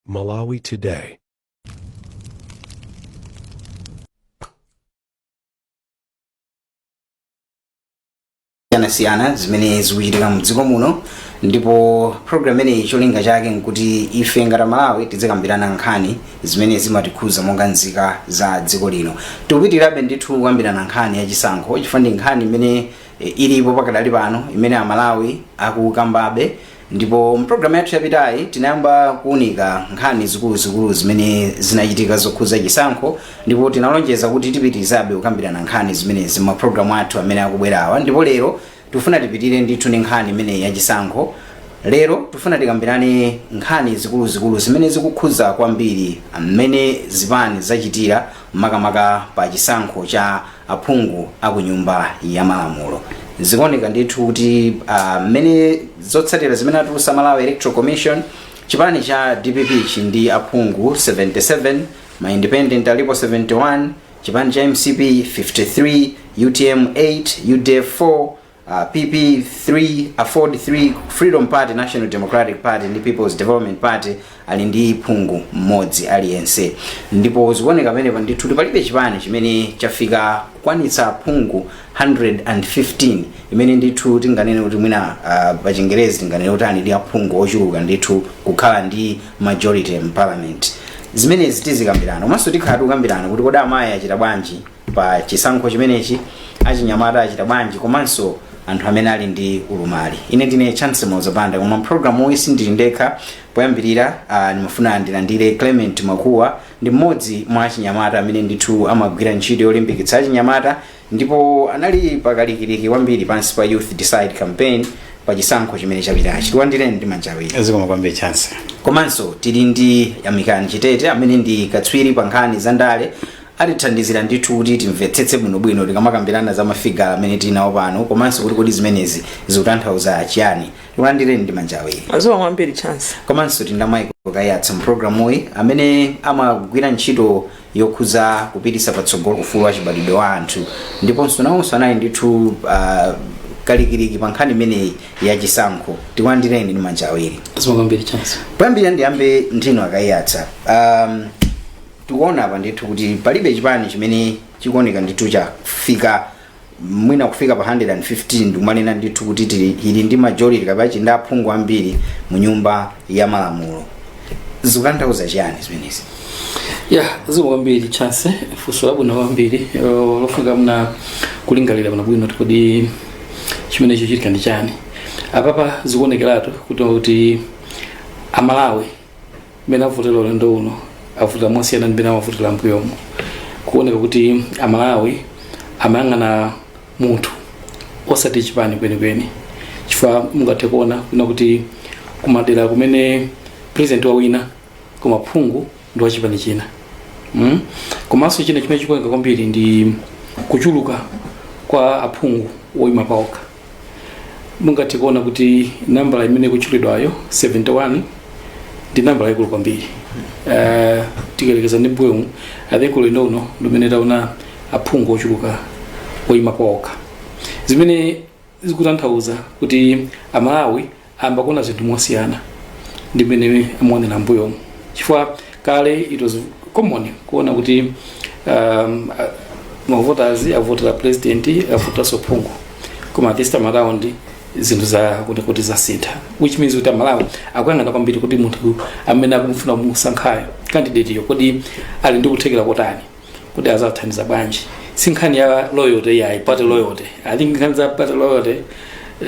Malawi Today. siyanasiyana zimene zikuchitika mdziko muno ndipo program imeneyi cholinga chake nkuti ife ngati amalawi tidzikambirana nkhani zimene zimatikhuza monga nzika za dziko lino tikupitirabe ndithu kukambirana nkhani ya chisankho chifukwa ndi nkhani imene eh, ilipo pakadali pano imene amalawi akukambabe ndipo mpulogalamu yathu yapitayi tinayamba kuunika nkhani zikuluzikulu zimene zinachitika zokhudza chisankho ndipo tinalonjeza kuti tipitirizabe kukambirana nkhani zimenezi mmapulogalamu athu amene akubwerawa ndipo lero tifuna tipitire ndithu ndi nkhani imeneyi ya chisankho lero tifuna tikambirane nkhani zikuluzikulu zimene zikukhudza kwambiri mmene zipani zachitira makamaka pa chisankho cha aphungu a ku nyumba ya malamulo zikuoneka ndithu kuti ah, mmene zotsatira zimene atulutsa malawi electoral commission chipani cha dpp chili ndi aphungu 77 ma independent alipo 71 chipani cha mcp 53 utm 8 udf 4 Uh, PP 3 AFORD 3 Freedom Party, National Democratic Party ndi People's Development Party ali ndi phungu mmodzi aliyense, ndipo zikuoneka pamenepa ndithu palibe chipani chimene chafika kukwanitsa aphungu 115 imene ndithu tinganene kuti mwina uh, pa chingerezi tinganene kuti ali ndi aphungu ochuluka ndithu kukhala ndi majority in parliament. Zimenezi tizikambirana komanso tikhala tikukambirana kuti kodi amayi achita bwanji pa chisankho chimenechi achinyamata achita bwanji komanso anthu amene ali ndi ulumali ine ndine chance mozapanda koma mpulogalamu uyi sindili ndekha poyambirira uh, ndimafuna ndilandire clement makuwa ndi mmodzi mwa achinyamata amene ndithu amagwira ntchito yolimbikitsa achinyamata ndipo anali pakalikiliki kwambiri pansi pa youth decide campaign pa chisankho chimene chapitachi tikulandireni ndi manja awiri zikomo kwambiri chance komanso tili ndi yamikani chitete amene ndi katswiri pa nkhani za ndale atithandizira ndithu kuti timvetsetse bwinobwino tikamakambirana za mafigazi amene tili nawo pano komanso kuti kodi zimenezi zikutanthauza chiyani tikulandireni ndi manja awiri zikomo kwambiri chance komanso tili ndi Michael Kaiyatsa mpulogalamuyi amene amagwira ntchito yokhudza kupititsa patsogolo ufulu wa chibadwidwe wa anthu ndiponso nawonso anali ndithu uh, kalikiliki pa nkhani imeneyi ya chisankho tikulandireni ndi manja awiri zikomo kwambiri chance poyambirira ndiyambe ndi inu a Kaiyatsa um, tikuona apa ndithu kuti palibe chipani chimene chikuoneka ndithu chafika mwina kufika pa 115 ndikumanena ndithu kuti tili ili ndi majority kapena chili ndi aphungu ambiri mu nyumba ya malamulo zikutanthauza chiyani zimenezi ya zikomo kwambiri chance funso labwino kwambiri eh, lofunika mwina kulingalira bwino bwino kuti kodi chimene chachitika ndi chani apapa zikuonekeratu kuti kuti amalawi mmene avotera ulendo uno avota mosiyana ndi mmene amavotera mbuyomu kuoneka kuti amalawi amayang'ana munthu osati chipani kwenikweni chifukwa mungathe kuona kunena kuti kumadera kumene president wawina koma phungu ndi wachipani china mm? komanso china chimene chikuoneka kwambiri ndi kuchuluka kwa aphungu oyima paokha mungathe kuona kuti nambala imene ikutchulidwayo 71 ndi nambala yaikulu kwambiri uh, tikayerekeza ndi mbuyomu i think ulendo uno ndimene taona aphungu ochuluka oyima paokha zimene zikutanthauza kuti amalawi ayamba kuona zinthu mosiyana ndi mmene amaonera mbuyomu chifukwa kale it was common kuona kuti um, a- mavoters avotera president avoteranso phungu koma this time around zinthu zaoneka kuti zasintha which means kuti amalawi akuyang'ana kwambiri kuti munthu amene akumufuna kumusankhayo candidate yo kodi ali ndi kuthekera kotani kuti adzawathandiza bwanji si nkhani ya loyalty yayi party loyalty i think nkhani za party loyalty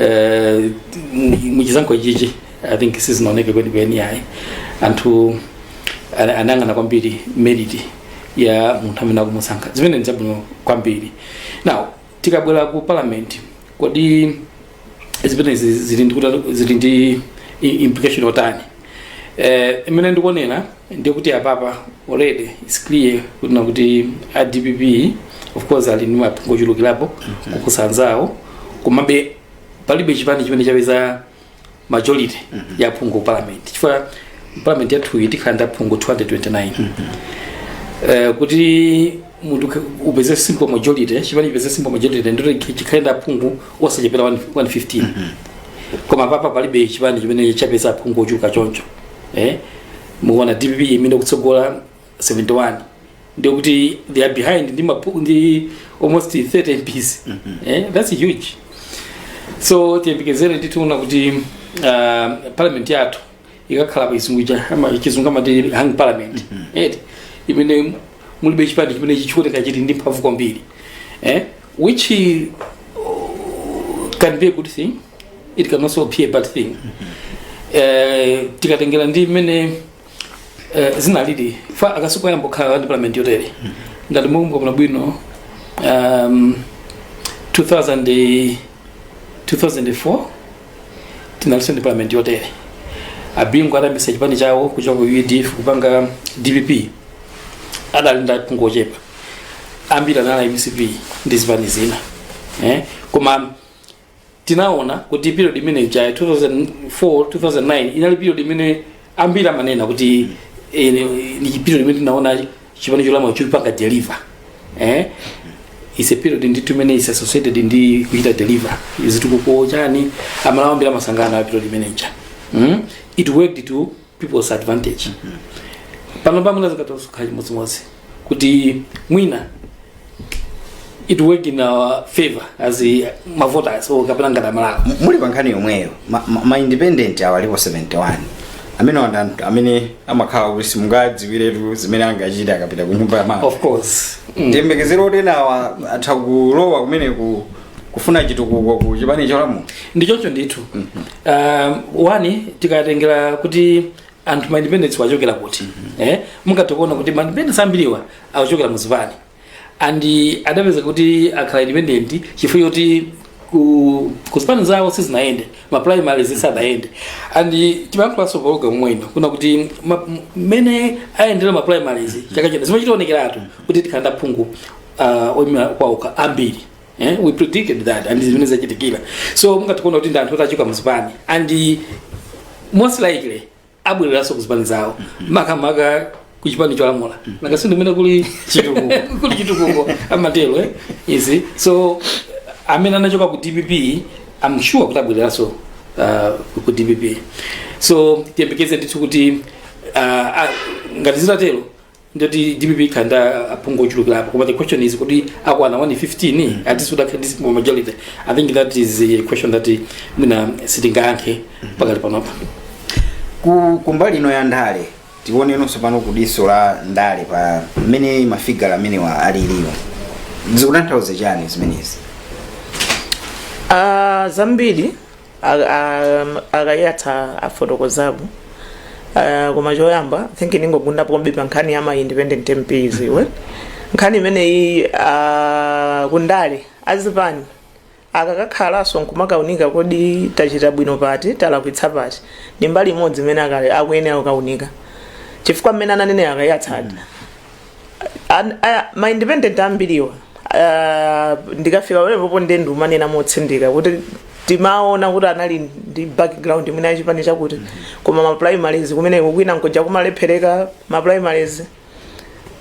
eh, mu- muchisankho chichi i think sizinaoneke kwenikweni yayi anthu ana- anayang'ana kwambiri merit ya munthu amene akumusankha zimene ndi zabwino kwambiri now tikabwera ku parliament kodi zimenezi zili ndi kuta- zili ndi i- implication yotani eh, imene ndikuonera ndi kuti apapa already its clear kunena kuti a dpp of course ali ndi maphungu ochulukirapo kuposa anzawo komabe palibe chipani chimene chapeza majority ya aphungu ku parliament chifukwa parliament yathuyi tikhala ndi aphungu 229 Eh, kuti munthu ukhe- upeze simple majority chipani chipeze simple majority ndiye chikhale ndi aphungu osachepera 1- 115 koma apapa palibe chipani chimene chapeza aphungu ochuluka choncho eh? mukuona dpp imene ikutsogola 71 ndiye kuti they are behind ndi, mapu, ndi almost 30 mps eh? that's huge so tiyembekezere kuti tiona kuti uh, parliament yathu ikakhala pachizungu ija ama- chizungu amati hang parliament eti imene mulibe chipani chimene chikuoneka chili ndi mphamvu kwambiri eh? which uh, can be a good thing it can also be a bad thing eh, tikatengera ndi mmene eh, zinalili si koyamba kukhala ndi parliament yotere ngati mukukumbukira bwino um, 2000 2004 tinalinso ndi parliament yotere abingu atayambitsa chipani chawo kuchoka ku udf kupanga dpp adali ndi aphungu ochepa ambiri anali a mcp ndi zipani zina eh? koma tinaona kuti period imene ija 2004 2009 inali period imene ambiri amanena kuti eh, ni- ni period imene tinaona chipani cholamula chikupanga deliver eh? is a period ndithu imene is associated ndi kuchita deliver zitukuko chani aMalawi ambiri amasangalala period imene ija mm? it worked to people's advantage pano pamwina zikadzakhala chimodzimodzi kuti mwina it work in our favor as a- mavoters or kapena ngati amalawi M- muli pa nkhani yomweyo ma, ma, ma independent awo alipo 71 amenewa ndi anthu amene amakhala kuti simungadziwiretu zimene angachita akapita ku nyumba ya mala of course mm. tiyembekezere kuti enawa atha kulowa kumene ku kufuna chitukuko ku chipani cholamula ndichocho ndithu um, one tikatengera kuti anthu ma independents achokera kuti eh mungathe kuona kuti ma independents ambiriwa akuchokera mu zipani and adapeza kuti akhala independent chifukwa choti ku ku zipani zawo sizinayende ma primary zisadayende and timayankhulanso pa program ino kunena kuti ma- m- mmene ayendera ma primaries chaka chino zimachitaonekeratu kuti tikhala ndi aphungu uh, oyimira paokha ambiri eh? we predicted that and zimene zachitikadi so mungathe kuona kuti ndi anthu oti achoka muzipani and most likely abwereranso kuzipani zawo makamaka kuchipani cholamula nanga si ndi kumene kuli Chitukuko. kuli chitukuko amatero eh? izi so amene anachoka ku dpp I'm sure kuti abwereranso uh, ku dpp so tiyembekeze ndithu kuti uh, ah, ngati zitatero ndiye kuti dpp ikhala ndi aphungu ochulukirapo but the question is kuti akwana 115 at least atakhala ndi simple majority i think that is a question that mwina sitingayankhe pakali panopa ku kumbali ino ya ndale tionenonso pano ku diso la ndale pa mmene mafigala amenewa alilimo zikutanthauza chani zimenezi Ah, zambiri akayatsa afotokozapo uh, koma choyamba think ndingogunda pombe pa nkhani ya ma independent mps iwe nkhani imeneyi uh, kundale azipani akakakhalanso nkumakaunika kodi tachita bwino pati talakwitsa pati ndi mbali imodzi imene akale akuyenera kukaunika chifukwa mmene ananene akayatsadi An- a- ma independent ambiriwa ah, ndikafika pamenepopo nde ndikumanena motsindika kuti timaona kuti anali ndi background imene yachipani chakuti koma ma primaries kumeneko kwina nkuja kumalephereka ma primaries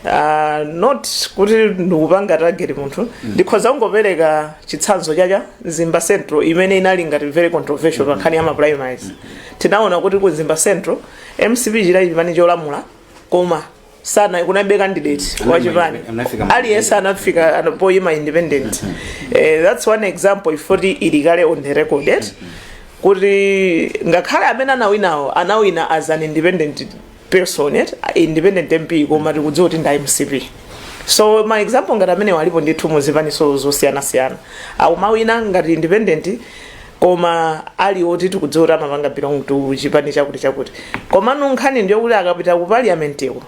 Ah, not kuti ndikupanga target munthu ndikhoza kungopereka chitsanzo cha mzimba central imene inali ngati very controversial pa nkhani ya ma primaries tinaona kuti ku mzimba central mcp chidali chipani cholamula koma sana kunaibe candidate wa chipani anafika ma- aliyense anafika ano- poyima independent Eh, that's one example yoti ili kale on the record eh? kuti ngakhale amene anawinawo anawina as an independent person eh? independent mp koma tikudziwa kuti ndi a mcp so ma example ngati amenewa alipo ndithu muzipaninso zosiyanasiyana akumawina ngati independent koma ali oti tikudziwa kuti amapanga belong to chipani chakuti chakuti komano nkhani ndi yakuti akapita ku parliamenteko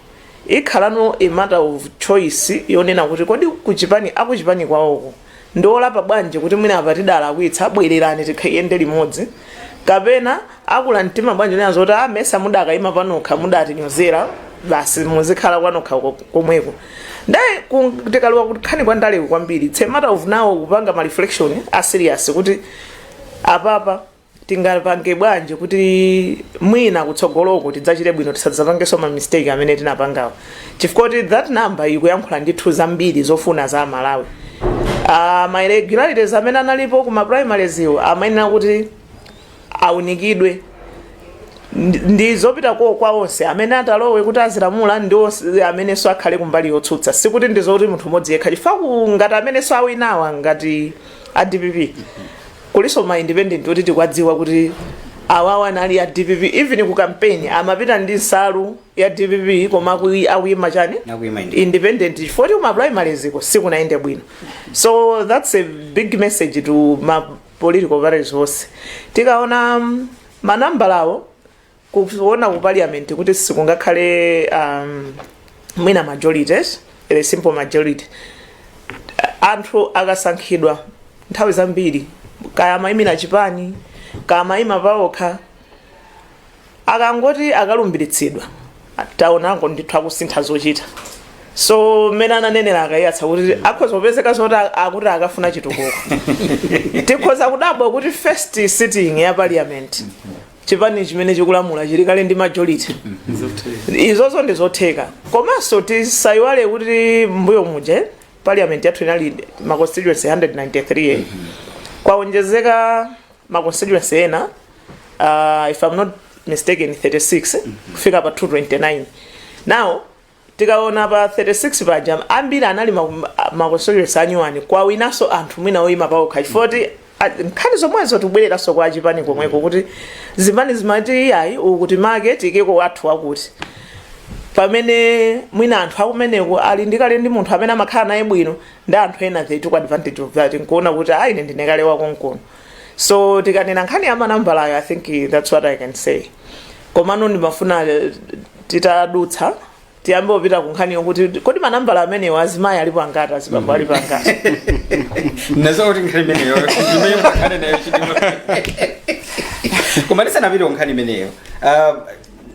ikhalano a matter of choice yonena kuti kodi kuchipani akuchipani kwawoko ndiolapa bwanji kuti mwina apa tidalakwitsa bwererani tikayende limodzi kapena akula mtima bwanji kunena zoti ndimesa mudakaima panokha mudatinyozera basi muzikhala kwanokha ko- komweko nde ku- tikalowa kunkhani kwa ndaleku kwambiri its a matter of now kupanga ma reflection a serious kuti apapa tingapange bwanji kuti mwina kutsogoloko tidzachite bwino tisadzapangenso ma mistake amene tinapangawo chifukwa kuti that number ikuyankhula ndithu zambiri zofuna za malawi uh, ma irregularities amene analipo ku ma primaries iwo amayenera kuti aunikidwe ndi ndi zopita ko kwa onse amene atalowe kuti azilamula ndi onse amenenso akhale kumbali yotsutsa sikuti ndi zoti munthu umodzi yekha chifukwa ku- ngati amenenso awinawa ngati a dpp kulinso ma independent kuti tikwadziwa kuti awawa anali a dpp even ku kampeni amapita ndi nsalu ya dpp koma akui- akuyima chani Akuyima independent. independent chifukwa kuti kuma primaries ko sikunayende bwino so that's a big message to ma political parties onse tikaona mm, manambalawo kuona ku parliament kuti sikungakhale um, mwina majority a simple majority anthu akasankhidwa nthawi zambiri kaya amayimira chipani kaya amayima paokha akangoti akalumbiritsidwa taonango ndithu akusintha zochita so mmene ananenera a Kaiyatsa kuti akhoza kupezeka zoti a- akuti akafuna chitukuko tikhoza kudabwa kuti first sitting ya parliament chipani chimene chikulamula chili kale ndi majority izozo ndi zotheka komanso tisayiwale kuti mbuyo muja parliament yathu inali ma constituency 193 kwaonjezeka ma constituency ena uh, if I'm not mistaken 36 kufika pa 229 now tikaona pa 36 paja ambiri anali ma- ma constituency anyuwani kwawinanso anthu mwina oyima paokha chifoti nkhani zomwezo tikubwereranso kwa chipani komweko kuti zipani zimati iyayi ukuti make tiyikeko wathu wakuti pamene mwina anthu akumeneko ali ndikale ndi munthu amene amakhala naye bwino ndi anthu ena they took advantage of that nkuona kuti ayi ine ndine kale wa komkuno so tikanena nkhani ya manambalayo i think that's what i can say komano ndimafuna eh, titadutsa tiyambe kupita ku nkhani yokuti kodi manambala amenewo azimayi alipo angati azibambo alipo angati nazokuti nkhani imeneyo imene tikhale nayo chidwi koma tisanapite ku nkhani imeneyo ah,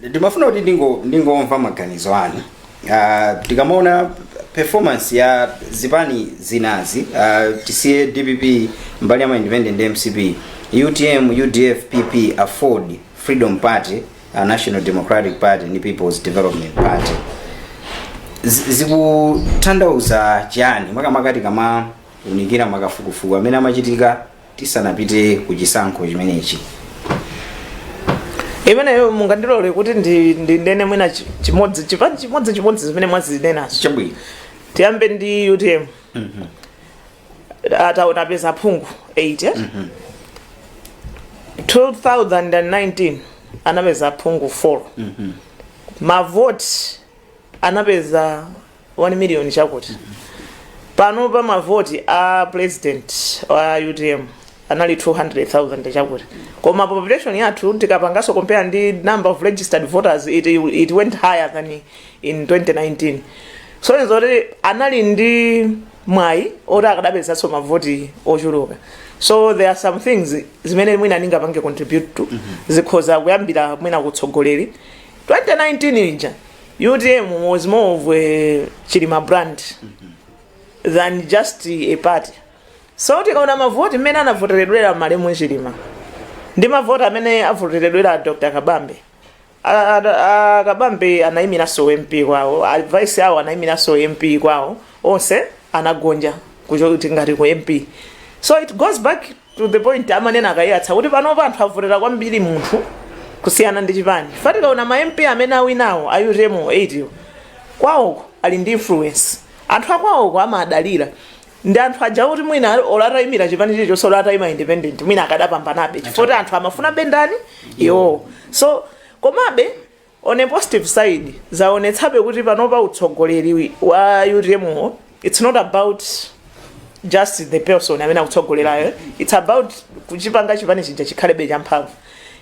ndimafuna kuti ndingo- ndingomva maganizo anu Ah, tikamaona performance ya zipani zinazi ah, tisiye dpp mbali ya ma independent ndi mcp utm udf pp afford freedom party ah, national democratic party ndi peoples development party zi- zikutanthauza chani makamaka tikamaunikira makafukufuku amene amachitika tisanapite ku chisankho chimenechi imeneyo mungandilole kuti ndi- ndinene mwina chi- chimodzi chipani chimodzi chimodzi zimene mwazinenazo chabwino tiyambe ndi utm pano apeza aphungu 8 eh? 2019 anapeza aphungu 4 mavoti anapeza 1 million chakuti pano pa mavoti a president wa utm anali 200,000 chakuti koma population yathu tikapangaso compare ndi number of registered voters it, it went higher than in 2019 so ndi zoti anali ndi mwayi oti akadapezanso mavoti ochuluka so there are some things zimene mwina ndingapange contribute to zikhoza kuyambira mwina kutsogoleri 2019 ija utm was more of a chilima brand than just a party so tikaona mavoti mmene anavoteredwera malemu chilima ndi mavoti amene avoteredwera dr kabambe A- a- a- kabambe anayimiranso ump kwawo a vice awo anayimiranso ump kwawo onse anagonja kuchoka ngati ku mp so it goes back to the point amanena akayatsa kuti panopa anthu avotera kwambiri munthu kusiyana ndi chipani chifukwa tikaona ma mp amene awinawo a utm 8 yo kwawoko ali ndi influence anthu akwawoko amadalira ndi anthu aja kuti mwina olo ataimira chipani chilichonse olo ataima independent mwina akadapambanabe chifukwa kuti anthu amafuna bendani iwowo so komabe On a positive side, zaonetsabe kuti panopa utsogoleri wa utm wo, it's not about just the person amene akutsogolerayo it's about kuchipanga chipani chija chikhalebe champhamvu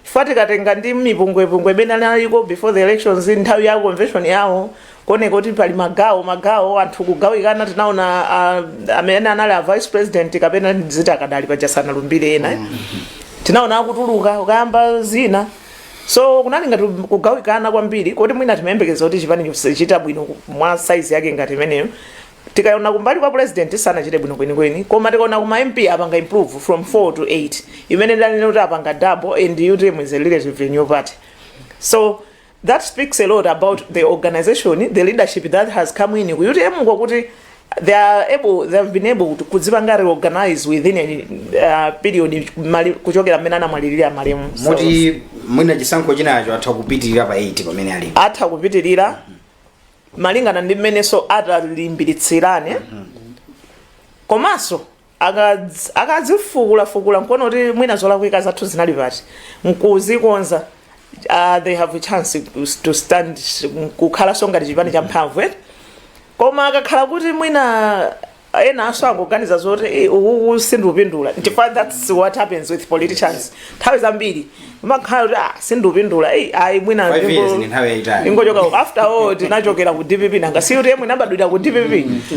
chifukwa tikatenga ndi mipungwepungwe imene inaliko before the elections nthawi ya convention yawo kuoneka kuti pali magawo magawo anthu kugawikana tinaona ah, amene anali a vice president kapena ziti akadali paja sanalumbire ena tinaona akutuluka kukayamba zina so kunali ngati kugawikana kwambiri koti mwina timayembekeza kuti chipani sichichita bwino ku- mwa size yake ngati imeneyo tikaona kumbali kwa u president sanachite bwino kwenikweni koma tikaona kuma mp apanga improve from 4 to 8 imene ndanene kuti apanga double and utm is a relatively new party so that speaks a lot about the organization the leadership that has come in ku utm kwakuti they are able they have been able to kudzipanga reorganize within a uh, period mali- kuchokera mmene anamwalirira malemu So, moti mwina chisankho chinacho atha kupitirira pa 8 pamene alipo atha kupitirira malingana ndi mmenenso atalimbiritsirane komanso akadz akadzifukula fukula nkuona kuti mwina zolakwika zathu zinali pati nkuzikonza uh, they have a chance kus- to stand kukhalanso ngati chipani champhamvu eh? koma akakhala kuti mwina enanso akuganiza zoti "Eh, uku sindikupindula chifukwa that's what happens with politicians nthawi zambiri amakhala kuti ah, sindupindula ei ayi mwina Five ndingo- years ndi nthawi yayitali. ndingochoka ku- after all tinachokera ku dpp nanga si kuti mwina nabadwira ku dpp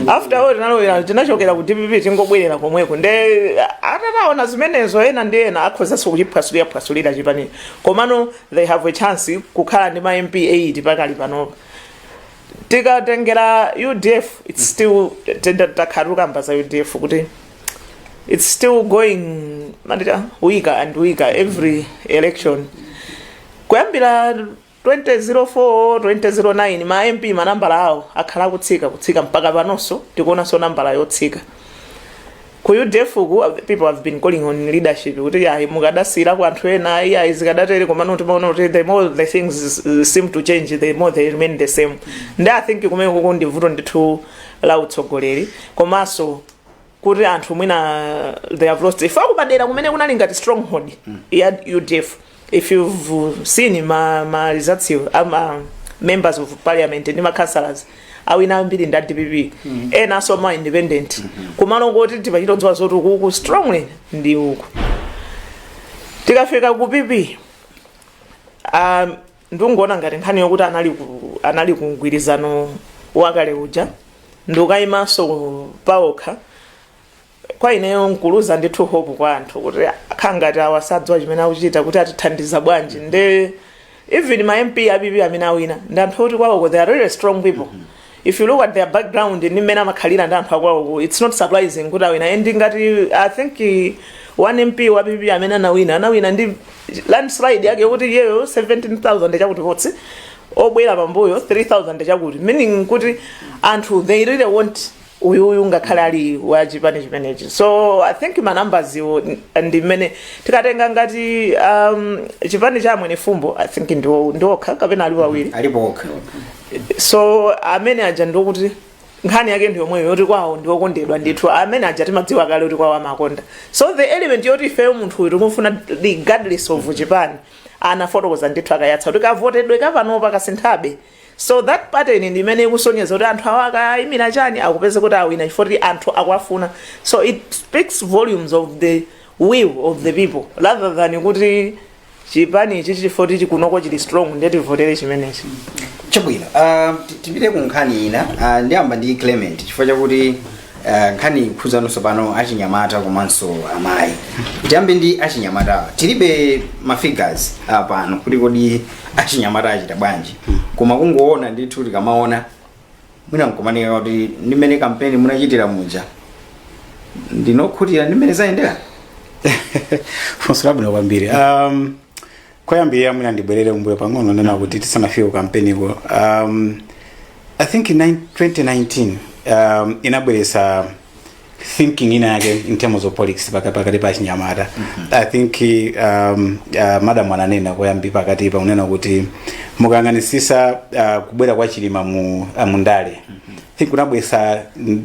after all tinalowera tinachokera ku dpp tingobwerera komweko nde atataona zimenezo ena ndi ena akhozanso kuchiphwasulira phwasulira chipanichi komano they have a chance kukhala ndi ma mp 8 pakali panopa tikatengera udf its still takhala tikukamba za udf kuti it's still going matita weaker and weaker every election kuyambira 2004 2009 ma mp manambala awo akhala akutsika kutsika mpaka panonso tikuonanso nambala yotsika ku udf ku people have been calling on leadership kuti ayi mukadasiyirako anthu ena ayi ayi zikadatere komano timaona kuti the more the things seem to change the more they remain the same and i think kumeneku ndi vuto ndithu la utsogoleri komanso kuti anthu mwina they have lost ife akupadera kumene kunali ngati stronghold ya udf if you've seen ma, ma results ama members of parliament ndi ma councillors awina ambiri ndi a dpp enanso ma independent kumalo koti timachita kudziwa zoti ukuku strongly ndi uku tikafika ku pp um, ndungoona ngati nkhani yokuti anali ku, anali ku mgwirizano wakale uja ndikukayimanso paokha kwa ineyo nkuluza ndithu hope kwa anthu kuti akhala ngati awa sadziwa chimene akuchita kuti atithandiza bwanji nde even ma mp a pp amene awina ndi anthu oti kwawoko they are really strong people if you look at their background ndi mmene amakhalira ndi anthu akwaoko it's not surprising kuti awina and ngati i think eh, one mp wa pp amene anawina anawina ndi landslide yake yokuti iyeyo 17000 chakuti kotsiriza obwera pambuyo 3000 chakuti meaning kuti anthu they really want uyuyu ngakhale ali wa chipani chimenechi so i think ma numbers iwo ndi mmene tikatenga ngati um, chipani cha amwene fumbo i think ndiwo ndiwokha kapena ali wawiri alipo okha so amene aja ndikuti nkhani yake ndi yomweyo yoti kwawo ndi okondedwa ndithu amene aja timadziwa kale kuti kwawo amakonda so the element yoti ifeyo munthu uyu tikumfuna regardless of chipani anafotokoza ndithu akayatsa kuti kavotedwe kapanopa kasinthabe so that pattern ndi imene ikusonyeza kuti anthu awa akayimira chani akupeza kuti awina chifukwa kuti anthu akwafuna so it speaks volumes of the will of the people rather than kuti chipani ichi chifoti chikunoko chili strong ndiye tivotere chimenechi chabwino ah, ti- tipite ku nkhani ina ah, ndiyamba ndi clement chifukwa chakuti ah, nkhani ikukhudzano tsopano achinyamata komanso amayi tiyambe ndi achinyamatawa tilibe mafigures ah, pano kuti kodi achinyamata achita bwanji koma kungoona ndithu tikamaona mwina nkumanika kuti ndi mmene kampeni munachitira muja ndinu okhutira ndi mmene zayendera funso labwino kwambiri um, koyambirira mwina ndibwerere kumbuyo pang'ono nena kuti tisanafike kukampeniko um, i think in nine- 2019 um, inabweresa thinking ina yake in terms of politics paka- pakati pa achinyamata i think um, uh, madam ananena koyambi pakati pa unena kuti mukayang'anisisa uh, kubwera kwa chilima mu, uh, mu ndale I think kunabwesa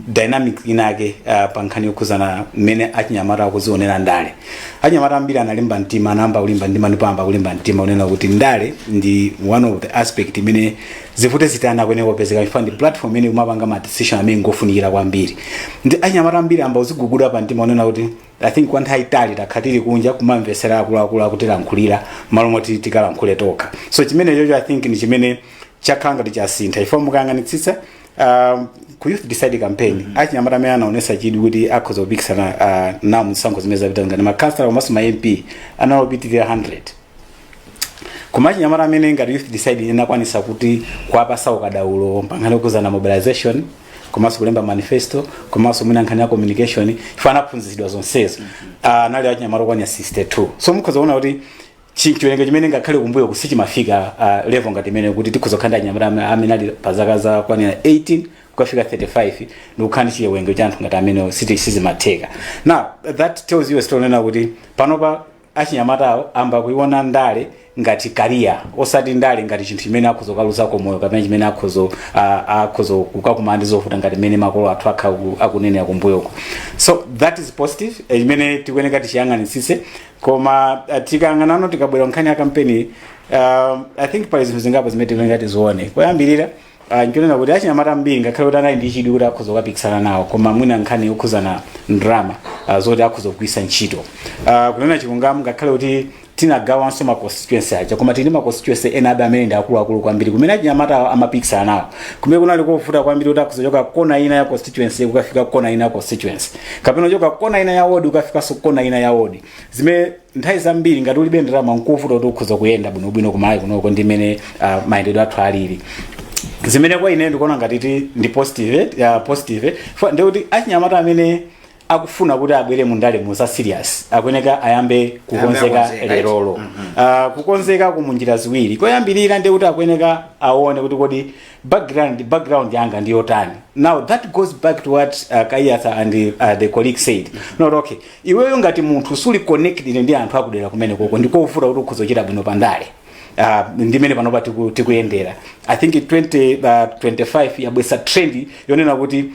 dynamic inake uh, pa nkhani yokhuzana mmene achinyamata akuzionera ndale achinyamata ambiri analimba mtima anayamba kulimba mtima ndipo ayamba kulimba mtima unena kuti ndale ndi one of the aspect imene zivute zitani akuyenera kupezeka chifukwa ndi platform imene umapanga ma decision amene ngofunikira kwambiri ndiye achinyamata ambiri ayamba kudziguguda pa mtima kunena kuti i think kwa nthawi itali takhala tili kunja kumamvetsera akuluakulu akutilankhulira malo moti tikalankhule tokha so chimenecho i think ndi chimene chakhala ngati chasintha chifukwa mukayang'anitsitsa um, ku youth decide campaign achinyamata amene anaonesa chidwi kuti akhoza kupikisana uh, nawo mzisankho zimene zapita ngati makhansala komanso ma mp analopitirira 100 koma achinyamata amene ngati youth decide inakwanisa kuti kuwapatsa ukadaulo pankhani yokhudzana mobilization komanso kulemba manifesto komanso mwina nkhani ya communication ife anaphunzitsidwa zonsezo Ah, anali achinyamata okwanira 62 so mukhoza kuona kuti chi- chiwerengero chimenechi ngakhale kumbuyo ku sichimafika ah, level ngati imeneyi kuti tikhoza kukhala ndi achinyamata ame- amene ali pa zaka zokwanira 18 kukafika 35 ndikukhala ndi chiwerengero cha anthu ngati amenewo siti- sizimatheka now that tells you a story yonena kuti panopa achinyamatawo ayamba kuiona ndale ngati career osati ndale ngati chinthu chimene akhoza kukaluzako moyo kapena chimene akhoza uh, akhoza kukakumana ndi zovuta ngati mmene makolo athu akhala ku- akunenera kumbuyoko so that is positive eh, chimene tikuyeneka tichiyang'anitsitse koma uh, tikayang'anano tikabwera nkhani ya kampeni uh, i think pali zinthu zingapo zimene tikuyeneka tizione koyambirira Ah, nchonena kuti achinyamata ambiri ngakhale kuti anali ndi chidwi kuti akhoza kukapikisana nawo koma mwina nkhani yokhuzana ndalama ah, zoti akhoza kugwiritsa ntchito Ah, kunena chilungamo ngakhale kuti tinagawanso ma constituency aja koma tili ndi ma constituency ena abe amene ndi akuluakulu kwambiri kumene achinyamata awo amapikisana nawo kumene kunali kovuta kwambiri kuti akhoza kuchoka kona ina ya constituency kukafika kona ina ya constituency kapena kuchoka kona ina ya ward kukafikanso kona ina ya ward zimene nthawi zambiri ngati ulibe ndalama nkovuta kuti ukhoza kuyenda bwinobwino ku malawi kunoko ndi mmene uh, mayendedwe athu alili zimene kwa ine ndikuona ngati ti ndi positive ya positive Fa- ndi kuti achinyamata amene akufuna kuti abwere mu ndale mu za serious akuyeneka ayambe kukonzeka kukonzeka, right? lerolo Ah, kukonzeka kumunjira ziwiri koyambirira ndi kuti akuyeneka aone kuti kodi background background yanga ndi yotani now that goes back to what uh, kayatha and uh, the colleague said kunena kuti okay iweyo ngati munthu suli connected ndi anthu akudera kumene koko ndikovuta kuti ukhoza kuchita bwino pandale Uh, ndi mmene panopa tiku- tikuyendera i think 2025 uh, 25 yabweretsa trend yonena kuti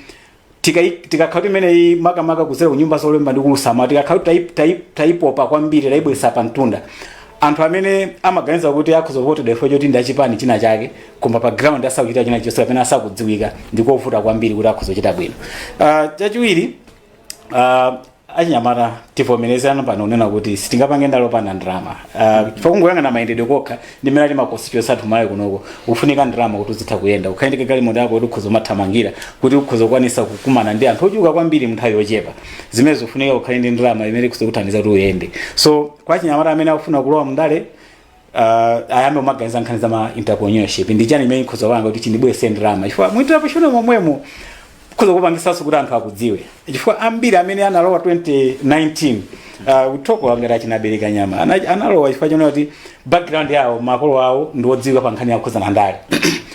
tikai- tikakhala kuti imeneyi makamaka kudzera kunyumba zolemba ndi kuulutsa mawu tikakhala kuti tai- tai- taipopa kwambiri taibweretsa pa mtunda anthu amene amaganiza kuti akhoza kuvotedwa chifukwa choti ndi achipani china chake koma pa ground asakuchita china chilichonse kapena asakudziwika ndikovuta kwambiri kuti akhoza kuchita bwino uh, chachiwiri uh, achinyamata tivomerezane pano kunena kuti sitingapange ndale opanda ndalama uh, chifukwa kungoyang'ana mayendedwe kokha ndi mmene ali makonstituensi athu malawi kunoko kufunika ndalama kuti uzitha kuyenda ukhale ndi galimoto yako kuti ukhoza umathamangira kuti ukhoza kukwanisa kukumana ndi anthu ochuluka kwambiri munthawi yochepa zimene zikufunika ukhale ndi ndalama imene ikhoza kuthandiza kuti uyende so kwa achinyamata amene akufuna kulowa mndale uh, ayambe kumaganiza nkhani za ma entrepreneurship ndi chani imene ikhoza kupanga kuti chindibweretse ndalama chifukwa mu entrepreneurship momwemo ikhoza kupangisanso kuti anthu akudziwe chifukwa ambiri amene analowa 2019 uh, Mtambo ngati a Chinabereka Nyama Ana- analowa chifukwa chonena kuti background yawo makolo awo ndi odziwika pa nkhani yokhudzana ndi ndale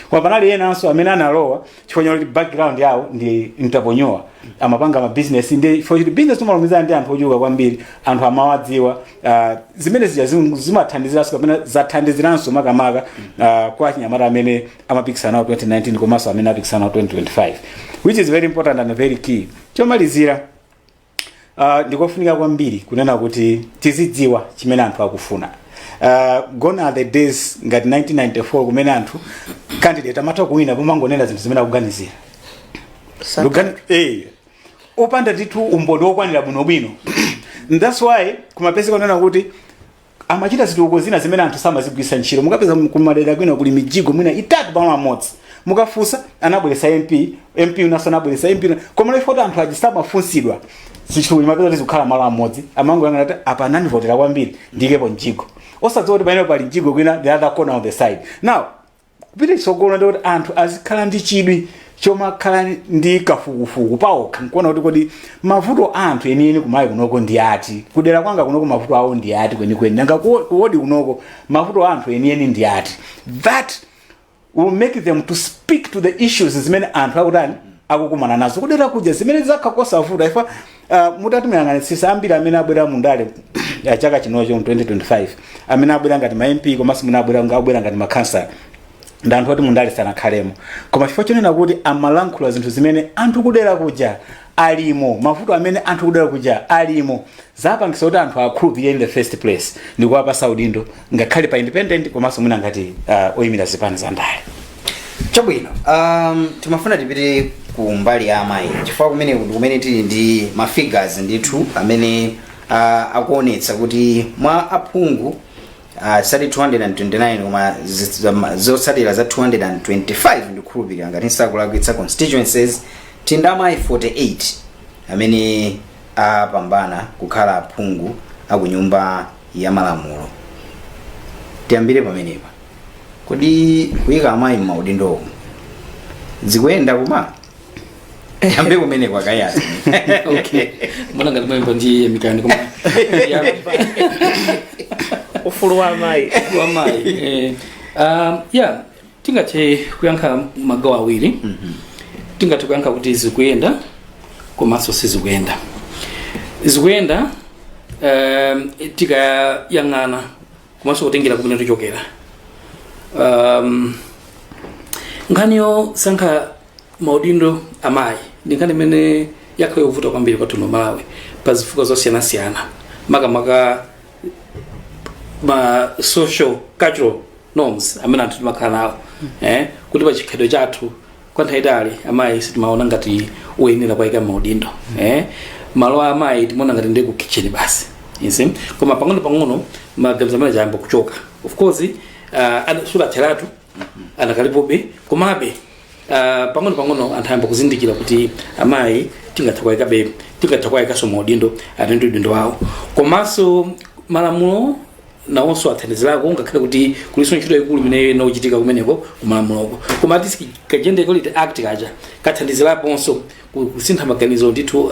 koma panali enanso amene analowa chifukwa choti background yawo ndi entrepreneur amapanga mabizinesi ndi chifukwa choti bizinesi umalumizana ndi anthu ochuluka kwambiri anthu amawadziwa uh, zimene zija zim- zimathandiziranso kapena zathandiziranso makamaka uh, kwa achinyamata amene amapikisana nawo 2019 komanso amene apikisana nawo 2025 which is very important and very key chomalizira Uh, ndikofunika kwambiri kunena kuti tizidziwa chimene anthu akufuna uh, gone are the days ngati 1994 kumene anthu candidate amatha kuwina pomangonena zinthu zimene akuganizira Lugani- eh, opanda ndithu umboni wokwanira bwinobwino that's why kumapezeka kunena kuti Amachita zitukuko zina zimene anthu samazigwiritsa ntchito. Mukapeza kumadera kwina kuli mijigo mwina itatu pamalo amodzi. Mukafunsa anabweretsa MP, MP winanso anabweretsa, MP wina. Koma chifukwa choti anthu aja samafunsidwa. Sukulu umapeza kuti zikukhala malo amodzi. Amangoyang'ana kuti apa anandivotera kwambiri ndiikepo mjigo. Osadziwa kuti pamene pali mjigo kwina the other corner of the side. Now kupita chitsogolo ndi kuti anthu azikhala ndi chidwi chomakhala ndi kafukufuku paokha nkuona kuti kodi mavuto a anthu enieni kwa amayi kunoko ndi ati kudera kwanga kunoko mavuto awo ndi ati kwenikweni nanga ku- kuwodi kunoko mavuto a anthu enieni ndi ati that will make them to speak to the issues zimene anthu akutani akukumana nazo kudera kuja zimene zakhala zosavuta if Uh, mutati muyang'anitsitse ambiri amene abwera mu ndale za chaka chinochi 2025 amene abwera ngati ma mp komanso amene abwera ngati makhansala ndi anthu oti mu ndale sanakhalemo koma chifukwa chonena kuti amalankhula zinthu zimene anthu kudera kuja alimo mavuto amene anthu kudera kuja alimo zapangitsa kuti anthu akhulupirire in the first place ndikuwapatsa udindo ngakhale pa independent komanso mwina ngati uh, oyimira zipani za ndale chabwino um, timafuna tipite ku mbali ya amayi chifukwa kumene ndi kumene tili ndi ma figures ndithu amene uh, akuonetsa kuti mwa aphungu uh, ali 229 koma zi- zama- zotsatira za 225 ndikukhulupirira ngati sindikulakwitsa constituencies tili ndi amayi 48 amene apambana kukhala aphungu a ku nyumba ya malamulo tiyambire pamenepa kodi kuyika amayi m'maudindo omwe zikuyenda koma tiyambe kumene kwa Kayasi okay ndiona ngati mwina ndi emikani koma ufulu wa amayi wamayi eh, um, yeah tingathe kuyankha magawo awiri tingathe kuyankha kuti zikuyenda komanso sizikuyenda zikuyenda um, tikayang'ana komanso kutengera kumene tichokera um, nkhani yosankha maudindo amayi ndi nkhani imene yakhala yovuta kwambiri kwathu mu malawi pa zifukwa zosiyanasiyana makamaka ma social cultural norms amene anthu timakhala nawo eh, kuti pa chikhalidwe chathu kwa nthawi yaitali amayi sitimaona ngati oyenera kuwaika maudindo eh, malo a amayi timaona ngati ndi ku kitchen basi you see? koma pang'ono pang'ono maganizo amenewo ayamba kuchoka of course uh, sanatheretu anakalipobe komabe Ah, pang'ono pang'ono anthu ayamba kuzindikira kuti amayi tingatha kuwayikabe tingatha kuwayikanso maudindo atatenga udindo wawo komanso malamulo nawonso athandizirako ngakhale kuti kulinso ntchito yaikulu imene inachitika kumeneko kumalamuloko koma act ka gender equality act kaja kathandiziraponso ku- kusintha maganizo ndithu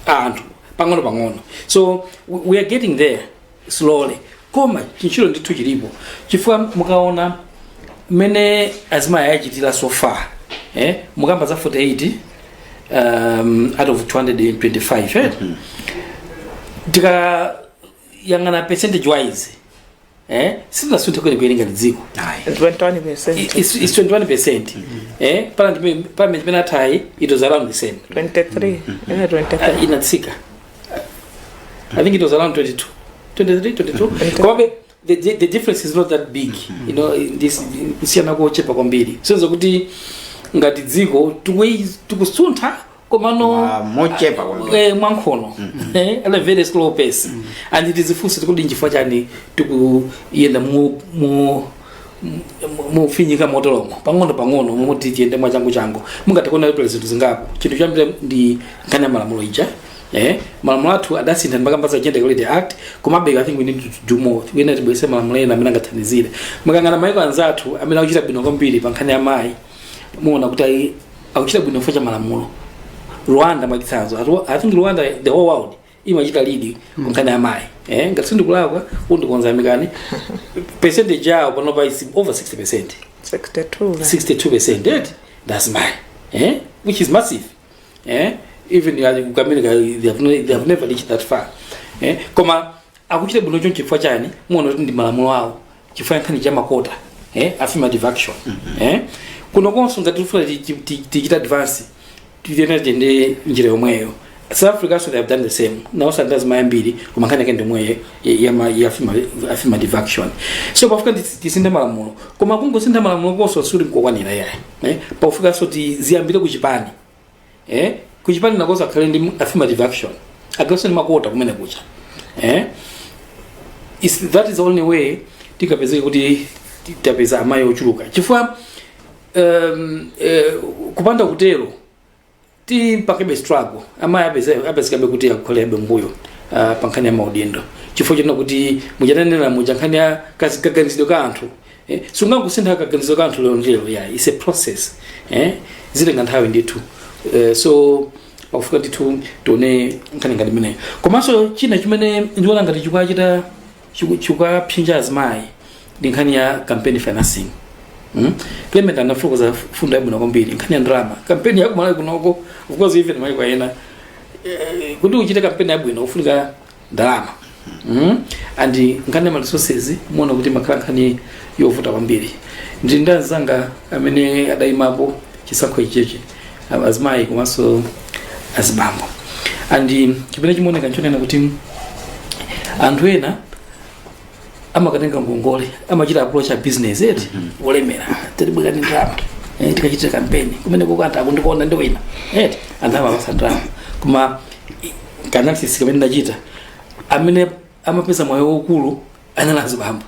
a anthu pang'ono pang'ono so we we are getting there slowly koma chintchito ndithu chilipo chifukwa mukaona mmene azimayi achitira so far eh? mukamba za 48 um, out of 225 eh? tikayang'ana percentage wise eh? sitinasunthe kwenikweni ngati dziko Ayi. 21 percent It's, it's 21 percent eh? pamene parliament yathayi it was around the same 23 ine 23 uh, inatsika I think it was around 22. 23, 22. Komabe, the, the, the difference is not that big. You know, ndithu, kusiyana kochepa kwambiri. So sonyeza kuti ngati dziko tukuyi- tikusuntha komano Ma- mochepa kwambiri. eh, mwankhono eh, at a very slow pace and tidzifunse kuti ndi chifukwa chani tikuyenda mu mu mofinyika moteromo pang'ono pang'ono moti tiyende mwachanguchangu mungathe kuona kuti pali zinthu zingapo chinthu choyambirira ndi nkhani ya malamulo ija eh malamulo athu adasintha ndimakamba za gender equality act komabe i think we need to do more mwina tibweretse malamulo ena amene angathandizire mukayang'ana mayiko anzathu amene akuchita bwino kwambiri pa nkhani ya amayi muona kuti akuchita bwino chifukwa cha malamulo rwanda mwachitsanzo Atu- i think rwanda the whole world imachita lead nkhani ya amayi eh, ngati sindikulakwa mundikonza mwina percentage yawo panopa is over 60 percent 62 la. 62 percent eti azimayi eh, which is massive eh, even in America they have, ne- they have never reached that far eh, koma akuchita bwino choncho chifukwa chani muona kuti ndi malamulo awo chifukwa nkhani ya makota eh, affirmative action eh, kuno konso ngati tifuna ti- ti- ti- tichite advance tiyenera tiyende njira yomweyo south africa also they have done the same nawo ali ndi azimayi ambiri koma nkhani yake ndi yomweyo ya affirmative action so pafunika ndi- tisinthe malamulo koma kungosintha malamulo konso sikuli kokwanira ayi eh, pafunikanso tiziyambire kuchipani eh kuchipani nakonso akhale ndi affirmative action agawise ndi makota kumenekuja eh is that is the only way tingapezeke kuti tapeza amayi ochuluka chifukwa um, eh, kupanda kutero tipangabe struggle amayi apeze- apezekabe kuti akukhalabe mbuyo uh, pa nkhani ya maudindo chifukwa chonena kuti mmene ndinanenera muja nkhani ya kazi- kaganizidwe ka anthu eh, sungangosintha kaganizidwe ka anthu lero ndi lero yayi it's a process eh, zitenga nthawi ndithu eh, so pakufunika ndithu tione nkhani ngati imeneyo komanso china chimene ndiona ngati chikuwachita chiku- chikuwapsinja azimayi ndi nkhani ya campaign financing Mm? Clement anafokoza fundo yabwino kwambiri nkhani ya ndalama kampeni ya ku Malawi kunoko of course even maiko ena eh, kuti uchite kampeni yabwino ufunika ndalama mm. and nkhani ya ma resources imaoneka kuti imakhala nkhani yovuta kwambiri ndili ndi anzanga amene adayimapo chisankho ichichi a- azimayi komanso azibambo and chimene chimaoneka nchonena kuti anthu ena amakatenga ngongole amachita approach abizinesi eti olemera tibwereke ndalama eh, tikachitire kampeni kumene kukantha akundikuona ndi wina eti anthu amapatsa ndalama koma ka analysis kamene ndachita amene amapeza mwayi waukulu anali azibambo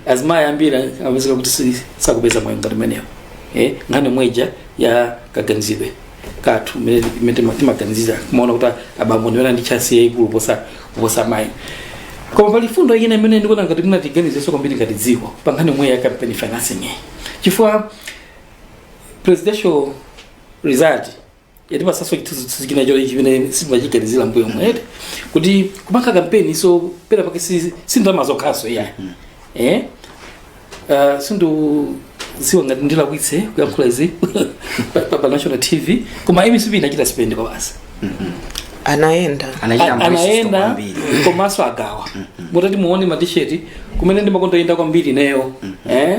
azimayi ambiri amapezeka kuti si- sakupeza mwayi ngati umenewo eh, nkhani yomwe ija ya kaganizidwe kathu imene timaganizira kumaona kuti abambo ndi omwe ali ndi chance yaikulu posa kuposa mayi koma pali fundo ina imene ndikuona ngati mwina tiganizenso kwambiri ngati dziko pa nkhani yomwe ya campaign financing iyi chifukwa presidential result yatipatsanso chithunzithunzi china choti chimene sitimachiganizira mbuyomu eti kuti kupanga kampeni nso pena pake si si ndalama zokhanso iyayi eh Uh, sindikudziwa ngati ndilakwitsa kuyankhula izi pa, pa, pa national tv koma mcp inachita spend kwabasi anayenda anachita A- mbuliso anayenda kwambiri komanso agawa mutati muone matisheti kumene ndimakonda kuyenda kwambiri ineyo eh?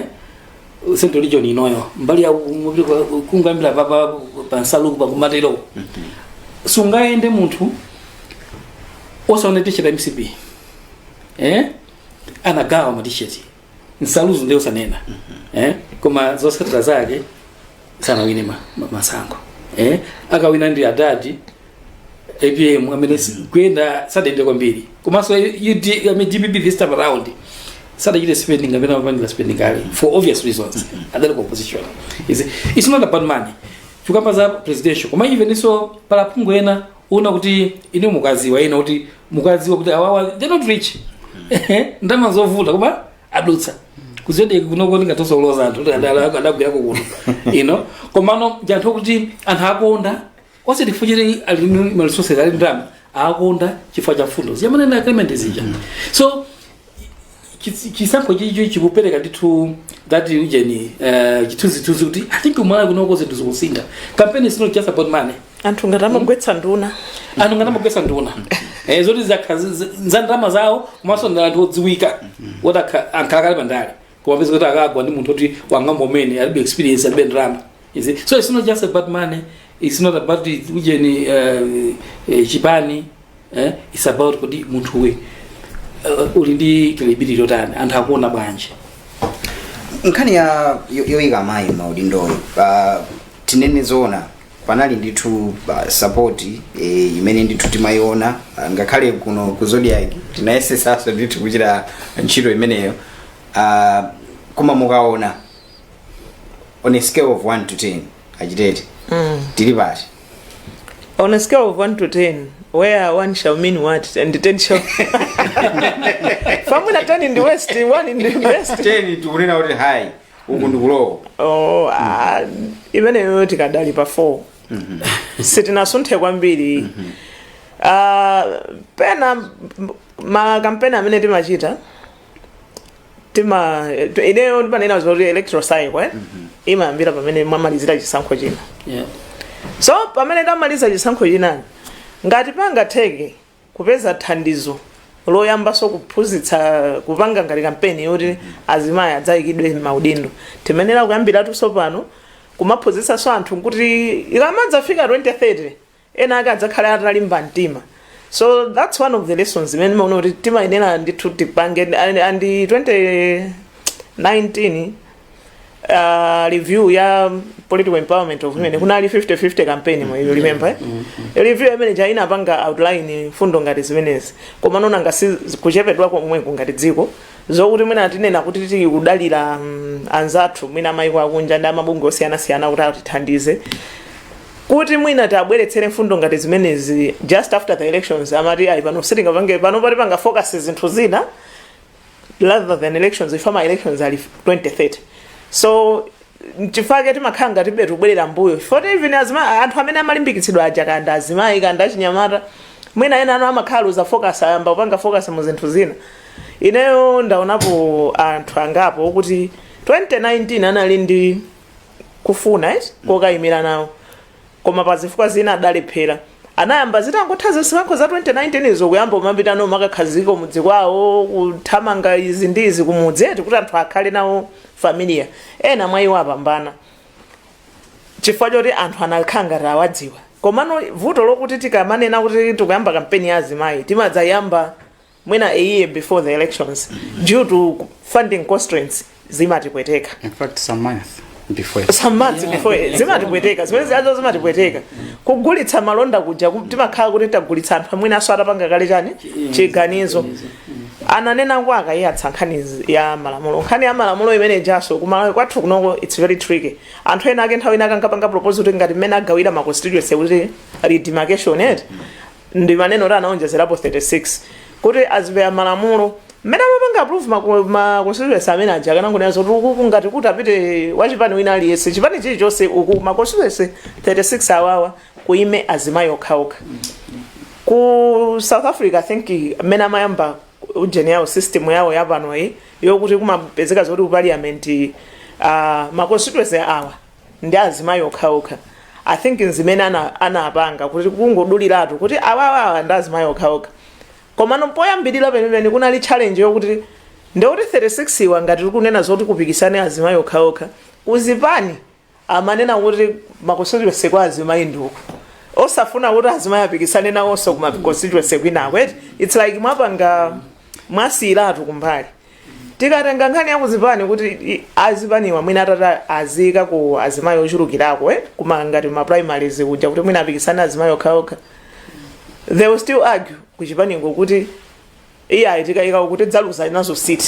central region inoyo mbali ya mukapita kwa- kungambira papa pansaluku pakumatero sungayende munthu osaone tisheti ya mcp eh? anagawa matisheti nsaluzo ndiye sanena eh? koma zotsatira zake sanawine ma, ma, masankho eh? akawina ndi adadi apm amene si- kuyenda sadayende kwambiri komanso UD I mean, dpp this time around sadachite spending imene amapanga spending kale for obvious reasons adali ku opposition Is it- it's not about money tikakamba za presidential koma even so pali aphungu ena uona kuti ine ukudziwa ena ukudziwa kuti awawa they're not rich ndalama zovuta koma adutsa ku ZBS kunoko ndingathenso kuloza anthu kuti adala- adagwirako kuno inu komano ndi anthu kuti anthu awakonda osati chifukwa ali ndi maresources ali ndi ndalama awakonda chifukwa cha mfundo zimene amanena agreement zija so Chitsi- chisankho ichicho chikupereka ndithu that ujeni uh, chithunzithunzi kuti i think ku Malawi kunoko zinthu zikusintha kampeni is not just about money anthu ngati amagwetsa nduna anthu ngati amagwetsa nduna eh, zoti zili zi- zi- za ndalama zawo komanso ndi anthu odziwika oti akha- akhalakale pa ndale koma upeza kuti akagwa ndi munthu oti wang'ono amene alibe experience alibe ndalama You see? so it's not just about money it's not about it- ujeni uh, eh, chipani eh? it's about kuti munthuwe uh, uli ndi credibility yotani anthu akuona bwanji nkhani ya yo- yoyika amayi maudindoyo uh, tinene zoona panali ndithu uh, support eh, imene ndithu timayiona uh, ngakhale kuno ku Zodiak tinayesetsanso ndithu kuchita ntchito imeneyo uh, koma mukaona on a scale of 1 to 10 achitete mm, tili pati on a scale of 1 to 10 where one shall mean what and 10 shall kapena 10 ndi worst 1 ndi best 10 tikunena kuti high uku ndi ku low Oh, ah, imeneyo tikadali pa 4 sitinasunthe kwambiri Ah, pena m- makampeni amene timachita tima tu- ineyo ndimanena zoti electoral cycle eh? imayambira pamene mwamalizira chisankho china Yeah. so pamene tamaliza chisankho chinoyi ngati pangatheke kupeza thandizo loyambanso kuphunzitsa kupanga ngati kampeni yoti azimayi adzayikidwe maudindo timayenera kuyambiratu tsopano kumaphunzitsanso anthu kuti ikamadzafika 2030 ena ake adzakhale atalimba mtima so that's one of the lessons imene ndimaona kuti timayenera ndithu tipange and, and 2019 uh, review ya political empowerment of women kunali 50-50 campaign mwina you remember eh? review imene ja inapanga outline mfundo ngati zimenezi koma ndikuona ngati kuchepedwa komweko ngati dziko zokuti mwina tinena kuti tili kudalira mm, anzathu mwina mayiko akunja ndi mabungwe osiyanasiyana kuti atithandize kuti mwina tibweretsere mfundo ngati zimenezi just after the elections amati ayi pano sitingapange pano tipange focus zinthu zina rather than elections ife ma elections ali 2030 so chifake timakhala ngati ibetu kubwerera mbuyo chifukwa kuti even azima anthu amene amalimbikitsidwa aja kanda azimayi kanda achinyamata mwina ena awo amakhala luza focus ayamba kupanga focus mu zinthu zina ineyo ndaonapo anthu angapo okuti 2019 anali ndi kufuna eh, kokayimira nawo koma pa zifukwa zina adalephera. Anayamba zitangotha zisankho za 2019 izo kuyamba kumapita nawo kumakakhazikika kumudzi kwawo kuthamanga izi ndi izi kumudzi eti kuti anthu akhale nawo familiar. Ena mwa iwo apambana chifukwa choti anthu anakhala ngati awadziwa. Komano vuto lokuti tikamanena kuti tikuyamba kampeni ya azimayi timadzayamba mwina a year before the elections due to funding constraints zimatipweteka in fact some months before some months before zimatipweteka zimene zijazo zimatipweteka kugulitsa malonda kuja ku- timakhala kuti tagulitsa anthu amene aja atapanga kale chani chiganizo ananena ndi a Kaiyatsa nkhani zi- ya malamulo nkhani ya malamulo imene ijanso kumalawi kwathu kunoko its very tricky anthu enaake nthawi ina ankangopanga proposal kuti ngati mmene agawira ma constituency kuti redemarcation eti ndimanena zoti anaonjezerapo 36 kuti azipera malamulo mmene amapanga approve ma- ma constituency amene aja akanangonena zoti ukuku ngati kuti apite wachipani wina aliyense chipani chilichonse uku ma constituency 36 awawa kuime azimayi okhaokha ku south africa i think mmene amayamba ujeni yawo system yawo yapanoyi yokuti kumapezeka zoti ku parliament uh, ma constituency awa ndi azimayi okhaokha i think ndi zimene ana- anapanga kuti kungoduliratu kuti awawawa ndi azimayi okhaokha komano poyambirira penipeni kunali challenge yokuti ndekuti 36 iyo ngati tikunena zoti kupikisane azimayi okhaokha kuzipani amanena kuti ma constituency kwa azimayi ndi uku osafuna kuti azimayi apikisane nawonso kuma constituency kwinako eti its like mwapanga mwasiyiratu kumbali tikatenga nkhani ya kuzipani kuti i- azipaniwa mwina atati aziikako azimayi ochulukirako eh? kuma ngati ma primaries kuja kuti mwina apikisane azimayi okhaokha they will still argue kuchipaniko kuti iih ayi tikayika awo kuti tidzaluza nazo seat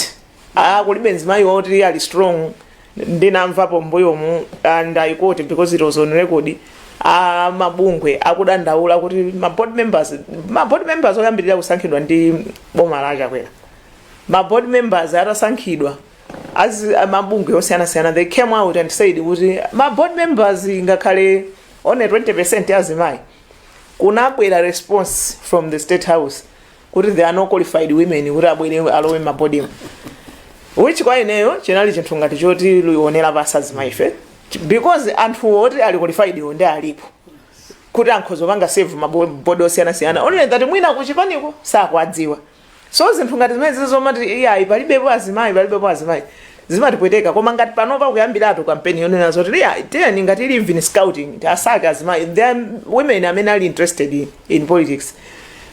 ah kulibe mzimayi woti iye ali strong ndinamvapo mbuyomu and i quote because it was on record amabungwe akudandaula kuti ma board members ma board members oyambirira kusankhidwa ndi boma la a Chakwera ma board members atasankhidwa amabungwe osiyanasiyana they came out and said kuti ma board members ngakhale only 20 ya azimayi kunabwera response from the state house kuti there are no qualified women kuti abwere alowe m'mabodimu which kwa ineyo chinali chinthu ngati chotionera pansi azimayife because anthu oti ali qualified iwo ndi alipo kuti akhoza kupanga serve m'mabodi osiyanasiyana only that mwina kuchipaniko sakuadziwa so zinthu ngati zimenezi zomati iyayi palibepo azimayi palibepo azimayi zimatipweteka koma ngati panopa kuyambiratu kampeni yonena zoti iyayi tiyeni ngati ili even scouting tiwasake azimayi there are women amene ali interested in, in politics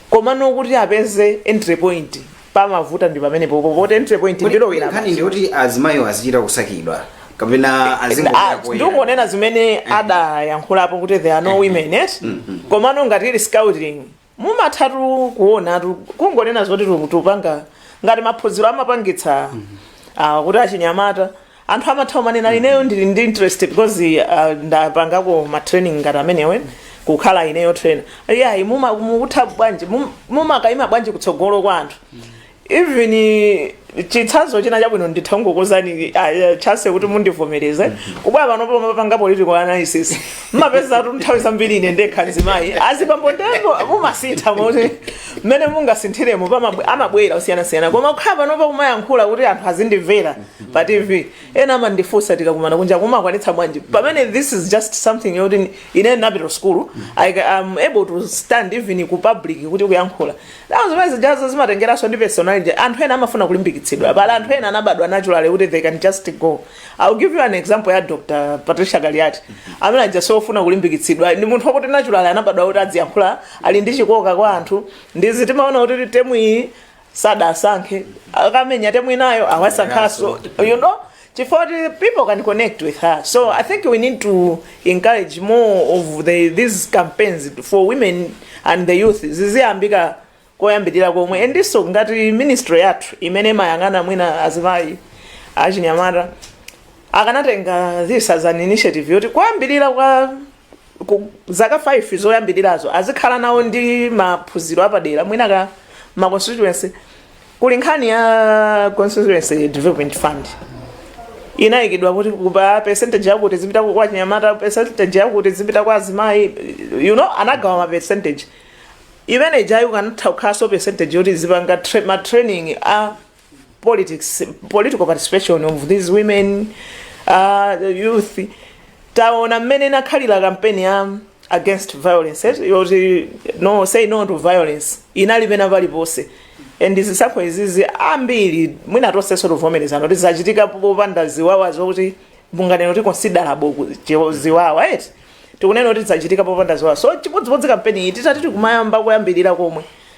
koma nokuti apeze entry point pamavuta ndi pamene pompo poti entry point ndilowera nkhani ndiyoti azimayi azichita kusakidwa kapena azingoyera poyera. ndingonena zimene adayankhulapo kuti there are no women yes komano ngati ili scouting mumathatu kuonatu kungonena zoti tu- tupanga ngati maphunziro amapangitsa ah, kuti achinyamata anthu amatha kumanena ineyo ndili ndi interest because ah, ndapangako matraining ngati amenewo kukhala ineyo trainer yayi muma- mukutha bwanji mum- mumakaima bwanji kutsogolo kwa anthu even chitsanzo china chabwino nditha kungokuuzani chase kuti mundivomereze kubwera pano pomapanga political analysis mumapeza kuti nthawi zambiri ine ndekha mzimayi azibambo nde pomwe mumasintha moti mmene mungasinthiremo pamabwe- amabwera osiyanasiyana koma kukhala pano kumayankhula kuti anthu azindimvera pa tv ena amandifunsa tikakumana kunja mumakwanitsa bwanji pamene this is just something yoti ine ndinapita school I am able to stand even ku public kuti kuyankhula Now zimene zijazo zimatengeranso ndi personality. Anthu ena amafuna kulimbikitsidwa. Pali anthu ena anabadwa naturally kuti they can just go. I'll give you an example ya Dr. Patricia Kaliati. Amene aja sofuna kulimbikitsidwa. Ndi munthu wakuti naturally anabadwa kuti adziyankhula ali ndi chikoka kwa anthu. Ndi zija timaona kuti temu iyi sadamusankhe. Akamenya temu inayo awasankhanso. You know? chifukwa choti people can connect with her so i think we need to encourage more of the, these campaigns for women and the youth ziziyambika koyambirira komwe ndiponso ngati ministry yathu imene imayang'ana mwina azimayi achinyamata akanatenga this as an initiative yoti koyambirira kwa ku zaka 5 zoyambirirazo azikhala nawo ndi maphunziro apadera mwina kuma constituency kuli nkhani ya constituency development fund inayikidwa kuti ku percentage yakuti zipita kwa achinyamata percentage yakuti zipita kwa azimayi you know anagawa ma percentage imene ijayo ikanatha kukhalanso percentage yoti zipanga tra ma training a politics political participation of these women uh, the youth taona mmene inakhalira kampeni ya against violence eh? yoti no say no to violence inali pena paliponse and zisankho izizi ambiri mwina tonsefe tivomerezana kuti zachitika popanda ziwawa zokuti munganene kuti considerable ku- chi- ziwawa eti tikunena kuti zachitika popanda ziwawa so chimodzimodzi kampeni iyi titati tizikumayamba kuyambirira komwe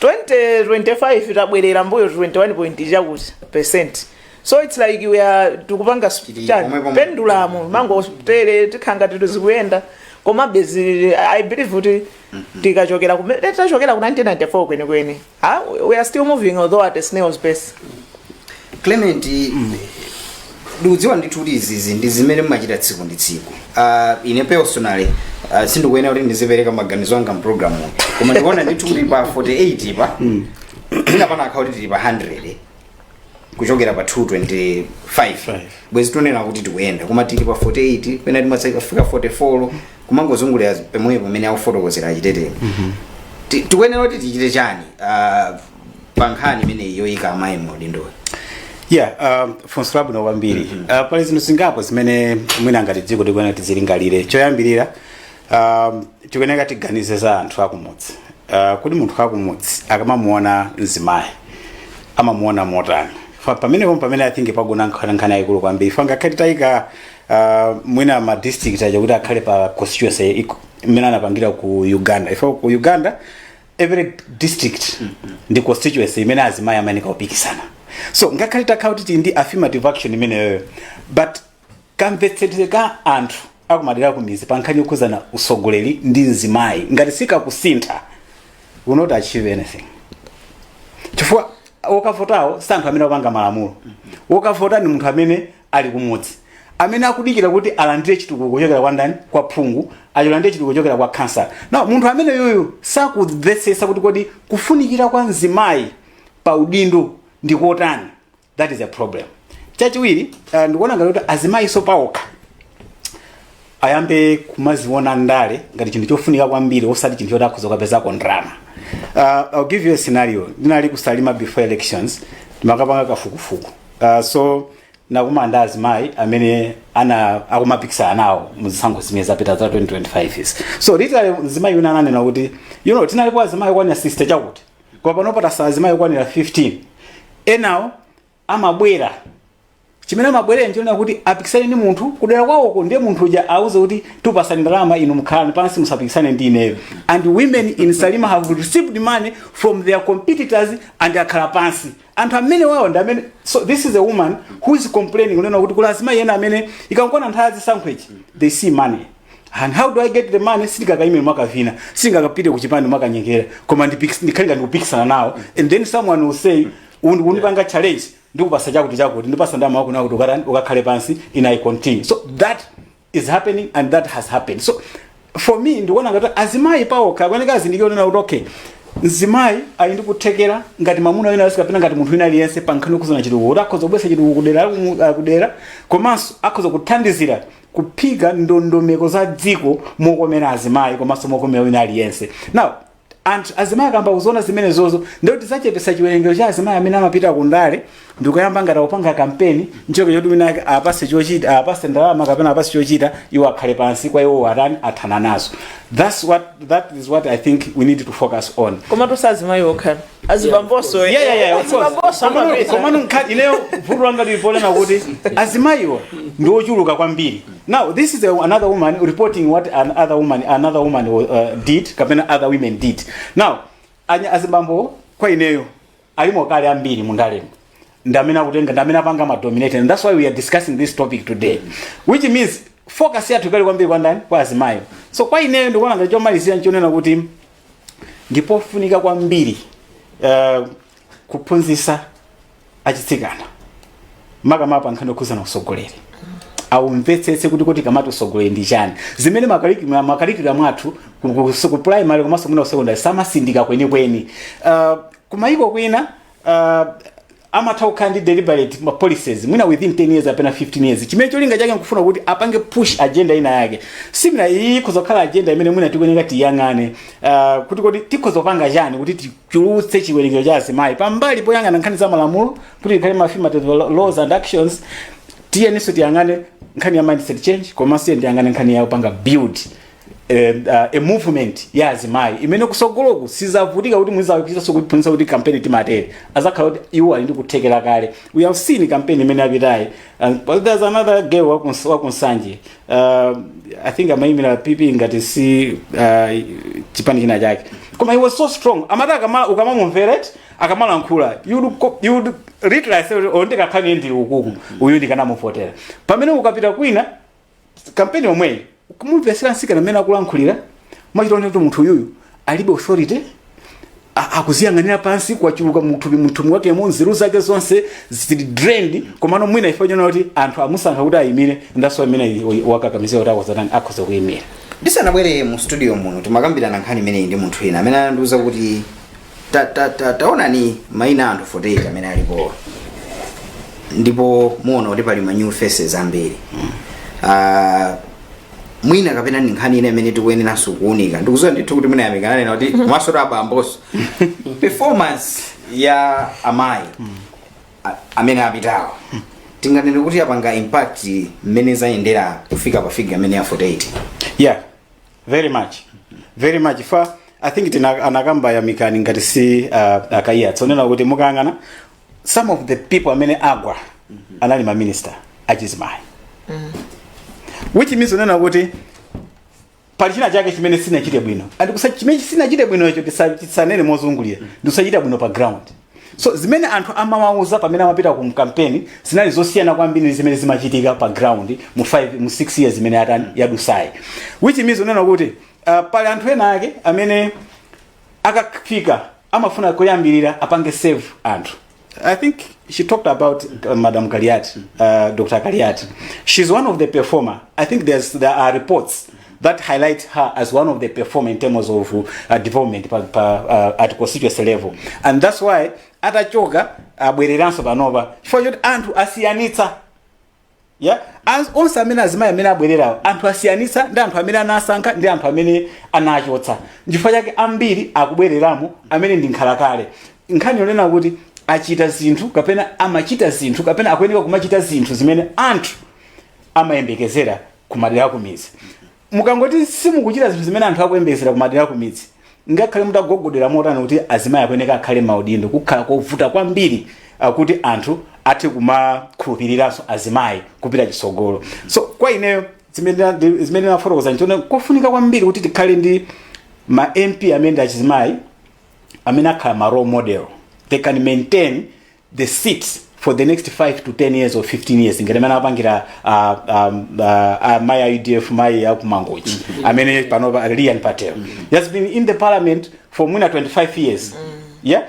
2025 tabwerera mbuyo 21 point chakuti percent so its like we are tikupanga s- Tili chani, pomwe pomwe. pendulamu mangotere tikhala ngati zikuyenda koma basi i believe kuti tikachokera kumene tachokera ku 1994 kwenikweni Ah, we are still moving although at a snail's pace clement ndikudziwa ndithu kuti izizi ndi zimene mumachita tsiku ndi tsiku Ah, ine personally ah, sindikuyenera kuti ndizipereka maganizo anga m'pulogalamu koma ndikuona ndithu kuti pa 48 pa ina pana akhauli tili pa 100 kuchokera pa 225 Five. bwezi tunena kuti tikuyenda koma tili pa 48 pena timatsika fika 44 kumangozungulira pomwepo pamene akufotokozera achitetepo Ti- tikuyenera kuti tichite chani Ah, pa nkhani imeneyi yoyika amayi m'maudindoyi yeah um, funso labwino kwambiri uh, pali zinthu zingapo zimene mwina ngati dziko tikuyenera tizilingalire choyambirira um, tikuyenera tiganize za anthu akumudzi uh, kuti munthu wakumudzi akamamuona mzimayi amamuona motani Fa- pamene pomwe pamene i think pagona nkhani nkhani yayikulu kwambiri fa ngakhale tayika uh, mwina ma district aja kuti akhale pa constituency iko- imene anapangira ku uganda chifukwa ku uganda every district ndi constituency imene azimayi amayeneka kupikisana so ngakhale takhala kuti tili ndi affirmative action imeneyoyo but kamvetsedwe ka anthu akumadera akumizi pa nkhani yokhuzana usogoleri ndi mzimayi ngati sikakusintha we'll not achieve anything chifukwa wokavotawo si anthu amene akupanga malamulo wokavota ndi munthu amene ali kumudzi, amene akudikira kuti alandire chitukuko kuchokera kwa ndani? Kwa phungu, alandire chitukuko kuchokera kwa khansala. Now munthu ameneyoyo sakumvetsetsa kuti kodi kufunikira kwa mzimayi pa udindo ndi kotani. That is a problem. Chachiwiri, uh, ndikuona ngati kuti azimayiso paokha ayambe kumaziona ndale ngati chinthu chofunika kwambiri osati chinthu choti akhoza kukapezako ndalama uh, I'll give you a scenario ndinali kusalima before elections ndimakapanga kafukufuku uh, so ndinakumana ndi azimayi amene ana akumapikisana nawo muzisankho zimene zapita za 2025 izi so literally mzimayi wina ananena kuti you know tinalipo azimayi okwanira 60 chakuti koma pano patsala azimayi okwanira 15 enawo amabwera chimene amabwerera nchonena kuti apikisane ndi munthu kudera kwawoko ndiye munthu uja auze kuti tikupasani ndalama inu mukhale pansi musapikisane ndi ineyo and women in salima have received money from their competitors and akhala pansi anthu amene wawo ndi amene so this is a woman who is complaining kunena kuti kuli azimayi ena amene ikangokwana nthawi ya chisankhochi they see money and how do i get the money sitikakaimire mwakavina sitingakapite kuchipani mwakanyengera koma ndipikis- ndikhalika ndikupikisana nawo and then someone will say undipanga challenge ndikupasa chakuti chakuti ndipasa ndama wako nakuti ukatani ukakhale pansi and I continue so that is happening and that has happened so for me ndikuona ngati azimayi paokha akuoneka azindikira kunena kuti okay mzimayi ali ndi kuthekera ngati mamuna wina aliyense kapena ngati munthu wina aliyense pa nkhani yokhuzana chitukuko kuti akhoza kubwesa chitukuko kudera la kumu- la kudera komanso akhoza kuthandizira kuika ndondomeko za dziko mokomera azimayi komanso mokomera wina aliyense now And azimayi akayamba kuziona zimenezozo, ndiye kuti tidzachepetsa chiwerengero cha azimayi amene amapita ku ndale ndikuyamba ngati akupanga kampeni nchonke choti wina ake apase chochita apase ndalama kapena apase chochita iwo akhale pansi kwa iwo atani athana nazo that's what that is what i think we need to focus on koma osati azimayi okha azibambonso eh. Yeah, yeah, yeah, of course. Azibambonso Komano- komano nkhani ineyo vuto langa liliponena kuti azimayiwa ndi ochuluka kwambiri Now, this is a, another woman reporting what an other woman, another woman uh, did, kapena other women did. Now, azibambo kwa ineyo, alimo kale ambiri mundalemo. Ndamene akutenga, ndamene apanga ma dominate. And that's why we are discussing this topic today. Which means, focus yathu ikhale kwambiri kwa ndani? Kwa azimayi. So, kwa ineyo ndikuona ngati chomalizira nchonena kuti, ndipofunika kwambiri uh, kuphunzisa achitsikana makamaka pa nkhani yokhuzana usogoleri awumvetsetse kuti tikamati usogoleri ndi chani zimene ma curricula ma curricula mwathu ku- ku- ku- ku primary komanso mwina usekondari samatsindika kwenikweni uh, kumayiko kwina uh, amatha kukhala ndi deliberate ma policies mwina within 10 years kapena 15 years chimene cholinga chake nkufuna kuti apange push agenda ina yake so mwina iyi ikhoza kukhala agenda imene mwina tikuyenera tiyang'ane uh, kuti kuti tikhoza kupanga chani kuti ti- chulutse chiwerengero cha azimayi pambali poyang'ana nkhani za malamulo kuti ikhale maafirmative lo- laws and actions tiyeninso tiyang'ane nkhani ya mindset change komanso tiye tiyang'ane nkhani ya kupanga build eh, uh, a movement ya azimayi imene kusogoloku sizavutika kuti muzikachitanso kuiphunzitsa kuti kampeni timatero azakhala kuti iwo ali ndi kuthekera kale we have seen kampeni imene yapitayi and there's another girl wakuns- wakunsanje uh, i think amayimira pp ngati si uh, chipani china chake koma she was so strong moti akama- ukamamumvera akamalankhula you'd co- you'd realize kuti, "Oh, ndikanakhala ndili ukuku uyu ndikanamuvotera pamene ukapita kwina kampeni yomweyi kumumvesera nsikana mmene akulankhulira umachita kuona kuti munthu uyuyu alibe authority a- akuziyang'anira pansi kwachuluka muthupi muthupi wakemo nzeru zake zonse zili drained komano mwina ife nchonena kuti anthu amusankha kuti ayimire ndanso amene amukakamizira kuti akhoza kutani akhoza kuyimira ndisanabwere mu studio muno timakambirana nkhani imeneyi ndi munthu wina amene anandiuza kuti ta, ta, ta, taonani maina a anthu 48 amene alipowa ndipo muona kuti pali ma new faces ambiri Ah, mwina kapena ndi nkhani ina imene tikuyeneranso kuunika ndikuziwa ndithu kuti mwina yamikani anena kuti komaso ta abamboso performance ya amayi a- amene apitawa tinganene kuti yapanga impact mmene zayendera kufika pa figure imene ya 48 yeah very much very much chifukwa i think tina anakamba yamikani ngati si uh, a kaiya zonena kuti mukayang'ana some of the people amene agwa anali ma minister achizimayi which means kunena kuti pali china chake chimene sinachite bwino and kusa- chimene sinachite bwinocho tisa- tisanene mozungulira ndikusachita bwino pa ground so zimene anthu amawauza pamene amapita ku kampeni zinali zosiyana kwambiri ndi zimene zimachitika pa ground mu 5 mu 6 years imene yatani yadusayi which means kunena kuti uh, pali anthu ena ake amene akafika amafuna koyambirira apange serve anthu i think she talked about uh, madam kaliati uh, dr kaliati she's one of the performer i think there's, there are reports that highlight her as one of the performer in terms of uh, development pa, pa, uh, at constituency level and that's why atachoka abwereranso panopa chifukwa choti anthu asiyanitsa yeah? As, onse amene azimayi amene abwererawo anthu asiyanitsa ndi anthu amene anasankha ndi anthu amene anachotsa nchifukwa chake ambiri akubwereramo amene ndi nkhalakale nkhani yonena kuti achita zinthu kapena amachita zinthu kapena akuyeneka kumachita zinthu zimene anthu amayembekezera kumadera akumidzi mukangoti simukuchita zinthu zimene anthu akuyembekezera kumadera akumidzi ngakhale mutagogodera motani kuti azimayi akuyeneka akhale maudindo kukhala kovuta kwambiri kuti anthu athe kumakhulupiriranso azimayi kupita chisogolo so kwa ineyo zimene ndi- zimene nafotokoza nchone kofunika kwambiri kuti tikhale ndi ma mp amene ndi achizimayi amene akhala ma role model they can maintain the seats for the next 5 to 10 years or 15 years ngati mmene apangira uh, um, uh, uh, mayi a udf mayi a ku mangochi amene panopa lilian patel he has been in the parliament for mwina 25 years yeah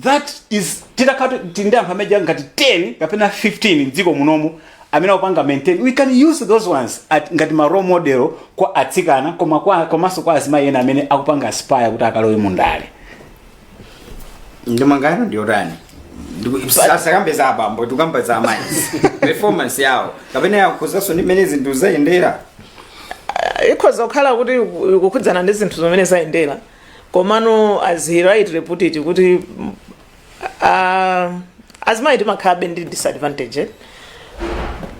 that is titakhala tili ndi anthu amene aja ngati 10 kapena 15 mdziko munomu amene akupanga maintain we can use those ones at, ngati ma role model kwa atsikana koma kwa komanso kwa azimayi ena amene akupanga aspire kuti akalowe mundale ndemanga yanu ndiyotani tisakambe za abambo tikukamba za amayi performance yawo kapena yakhuzanso ndi mmene zinthu zayendera ikhoza kukhala kuti iku- ikukhudzana ndi zinthu zimene zayendera komano as he rightly put it kuti uh, azimayi timakhalabe ndi disadvantage eh?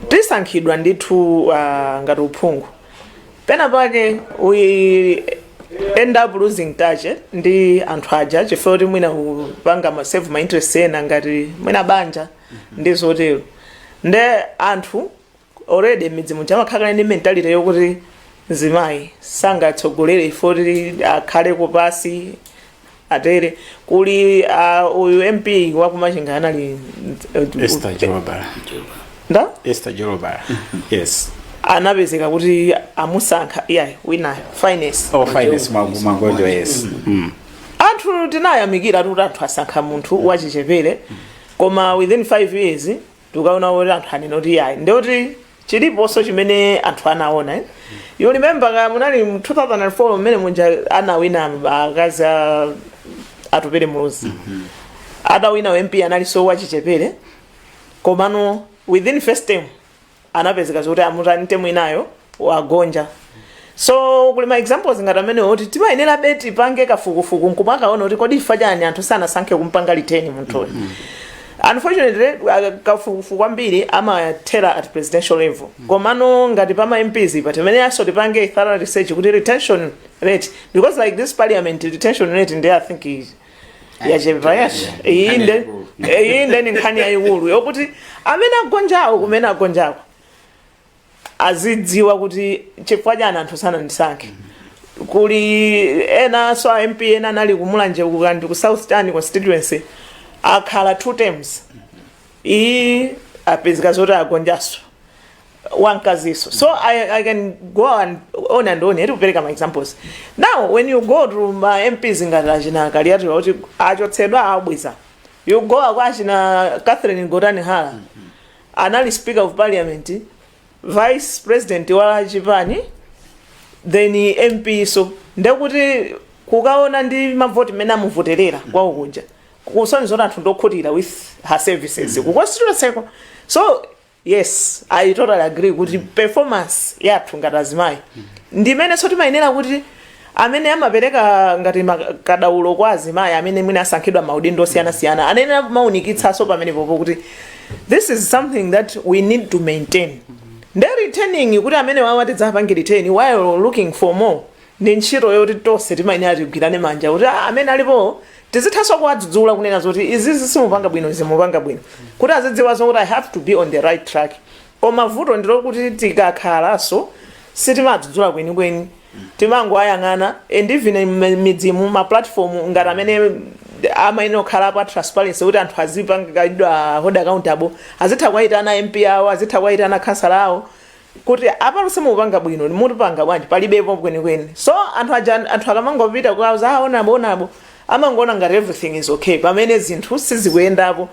tisankhidwa ndithu uh, ngati uphungu pena pake we end up losing touch eh, ndi anthu aja chifukwa kuti mwina kupanga ma save ma interest ena ngati mwina banja ndi zotero nde anthu already midzi muja amakhala ndi mentality yokuti mzimayi sangatsogolere efoti akhale kupasi atere kuli uh, uyu mp waku machinga anali Esther Jolobala. Ndani? Esther Jolobala. Yes. anapezeka kuti amusankha iyayi winayo finance Oh, finance Magonjo yes. Mm. anthu tinayamikira kuti anthu asankha munthu wachichepere koma within 5 years tukaona kuti anthu anena kuti ayi ndi kuti chiliponso chimene anthu anaona eh? you remember ka munali mu 2004 mmene munja anawina akazi a Atupele Muluzi adawina wa mp analinso wachichepere komano within first term anapezeka zoti amutani term inayo wagonja so kuli ma examples ngati amenewo kuti timayenerabe tipange kafukufuku nkumakaona kuti kodi chifukwa chani anthu sanasankhe kumpanga retain munthuyo unfortunately uh, kafukufuku kwambiri amathera at presidential level komano ngati pama mps pa timayeneraso tipange thorough research kuti retention rate because like this parliament retention rate ndi i think is yachepa yacho iyi nde iyi nde ndi nkhani yayikulu yokuti amene agonjawo kumene agonjako azidziwa kuti chifukwa chani anthu sanandisankhe kuli enaso a mp ena anali kumulanje ku Thyolo ku south town constituency akhala two terms iyi apezeka zoti agonjaso wankaziso so I, i can go and on and on to kupereka ma examples now when you go to ma mps ngati achina Kaliati kuti achotsedwa abweza you go kwa achina catherine Gotani Hara anali speaker of parliament vice president wa chipani then mp so ndekuti kukaona ndi mavoti mmene amuvoterera kwawo kuja kusonyeza kuti anthu ndi okhutira with her services ku constituency ko so yes i totally agree kuti performance yathu ngati azimayi ndimenenso timayenera kuti amene amapereka ngati kadaulo kwa azimayi amene mwina asankhidwa maudindo osiyanasiyana anayenera kumaunikitsanso pamenepopo kuti this is something that we need to maintain nde retaining kuti amenewawa tidzapange retain while looking for more ndi ntchito yoti tonse timayenera tigwirane manja kuti "Ah, amene alipo tizithanso kuwadzudzula kunena zoti izizi simupanga bwino izi mupanga bwino kuti azidziwa zokuti i have to be on the right track koma vuto ndilokuti tikakhalanso sitimadzudzula kwenikweni timangoayang'ana and even m- midzimu ma platform ngati amene amayenera kukhala pa transparency kuti anthu azipangidwa hold accountable azitha kuwayitana mp awo azitha kuwayitana khansala awo kuti apa simukupanga bwino mutipanga bwanji palibepo kwenikweni so anthu aja anthu akamangopita kwawo zaona bo naonso amangoona ngati everything is okay pamene zinthu sizikuyendapo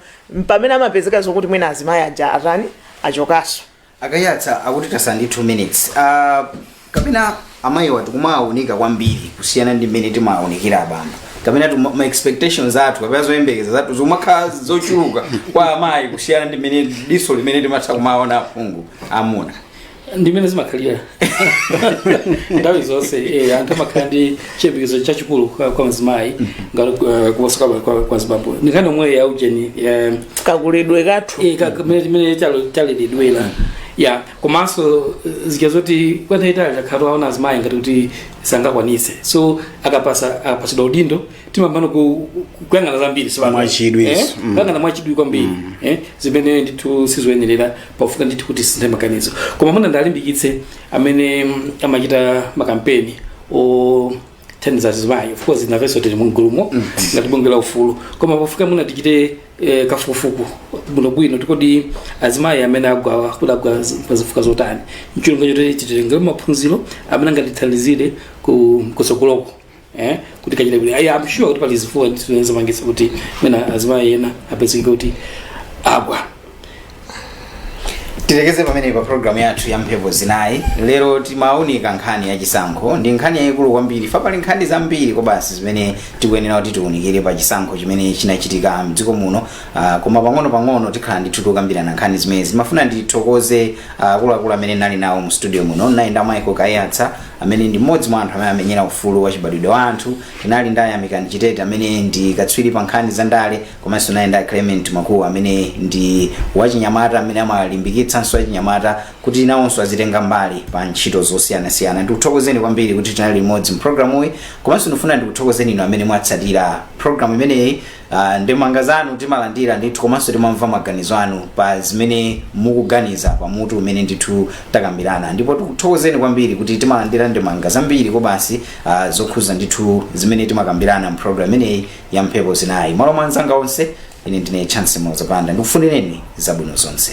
pamene amapezeka zokuti mwina azimayi aja atani achokanso a Kaiyatsa akuti tatsala ndi 2 minutes uh, kapena amayiwa tikumawaunika kwambiri kusiyana ndi mmene timawaunikira abambo kapena tuma- ma expectations athu kapena zoyembekeza zathu zimakhala zochuluka kwa amayi kusiyana ndi mmene diso limene timatha kumaona aphungu amuna ndi mmene zimakhalira nthawi zonse eh, anthu amakhala ndi chiyembekezo chachikulu kwa kwa mzimayi ngati eh, kuposa kwa- kwa- kwa zibambo ndi nkhani yomweyo ya ujeni eh, kakulidwe kathu Eh, ka- kamene mmene tale- taleredwera ya komanso eh, zija zoti kwa nthawi yaitali takhala taona azimayi ngati kuti sangakwanitse so akapatsa akapatsidwa udindo timayamba no ku- ku- kuyang'ana zambiri si ndiye? Mwachidwi, Eh? yes. Mm. kuyang'ana mwachidwi kwambiri eh? zimene ndithu sizoyenerera pafunika ndithu kuti tisinthe maganizo koma mwina ndiwalimbikitse amene mm, amachita makampeni othandiza azimayi of course nafenso tili mugulumo ngati bungwe la ufulu koma pafunika mwina tichite eh, kafukufuku bwinobwino kuti kodi azimayi amene agwawa kuti agwa zi- pa zifukwa zotani ndi cholinga choti titengere maphunziro amene angatithandizire ku- kutsogoloko eh kuti tikachite bwino i'm sure kuti pali zifukwa zimene zinapangitsa kuti mwina azimayi ena apezeke kuti agwa tilekeze pamenepa programu yathu ya mphepo zinayi lero timaunika nkhani ya chisankho ndi nkhani yayikulu kwambiri chifukwa pali nkhani zambiri kobasi zimene tikuyenera kuti tiunikire pa chisankho chimene chinachitika mdziko muno uh, koma pang'ono pang'ono tikhala ndithu tikukambirana nkhani zimenezi ndimafuna ndithokoze akuluakulu amene ndinali nawo mu studio muno ndinali nda Michael Kaiyatsa amene ndi mmodzi mwa anthu amene amamenyera ufulu wachibadwidwe wa anthu. Tinali ndi a Yamikani Chitete amene ndi katswiri pa nkhani za ndale komanso tinali ndi a Clement Makuwa amene ndi wachinyamata amene amalimbikitsanso achinyamata kuti nawonso azitenga mbali pa ntchito zosiyanasiyana. Ndikuthokozeni kwambiri kuti tinali limodzi mpulogalamuyi komanso ndikufuna ndikuthokozeni inu amene mwatsatira pulogalamu imeneyi Uh, ndemanga zanu timalandira ndithu komanso timamva maganizo anu pa zimene mukuganiza pa mutu umene ndithu takambirana ndipo tikuthokozeni kwambiri kuti timalandira ndemanga zambiri kobasi uh, zokhuza ndithu zimene timakambirana mprogram imeneyi ya mphepo zinayi mmalo mwa anzanga onse ine ndine Chancy Muloza Banda ndikufunireni zabwino zonse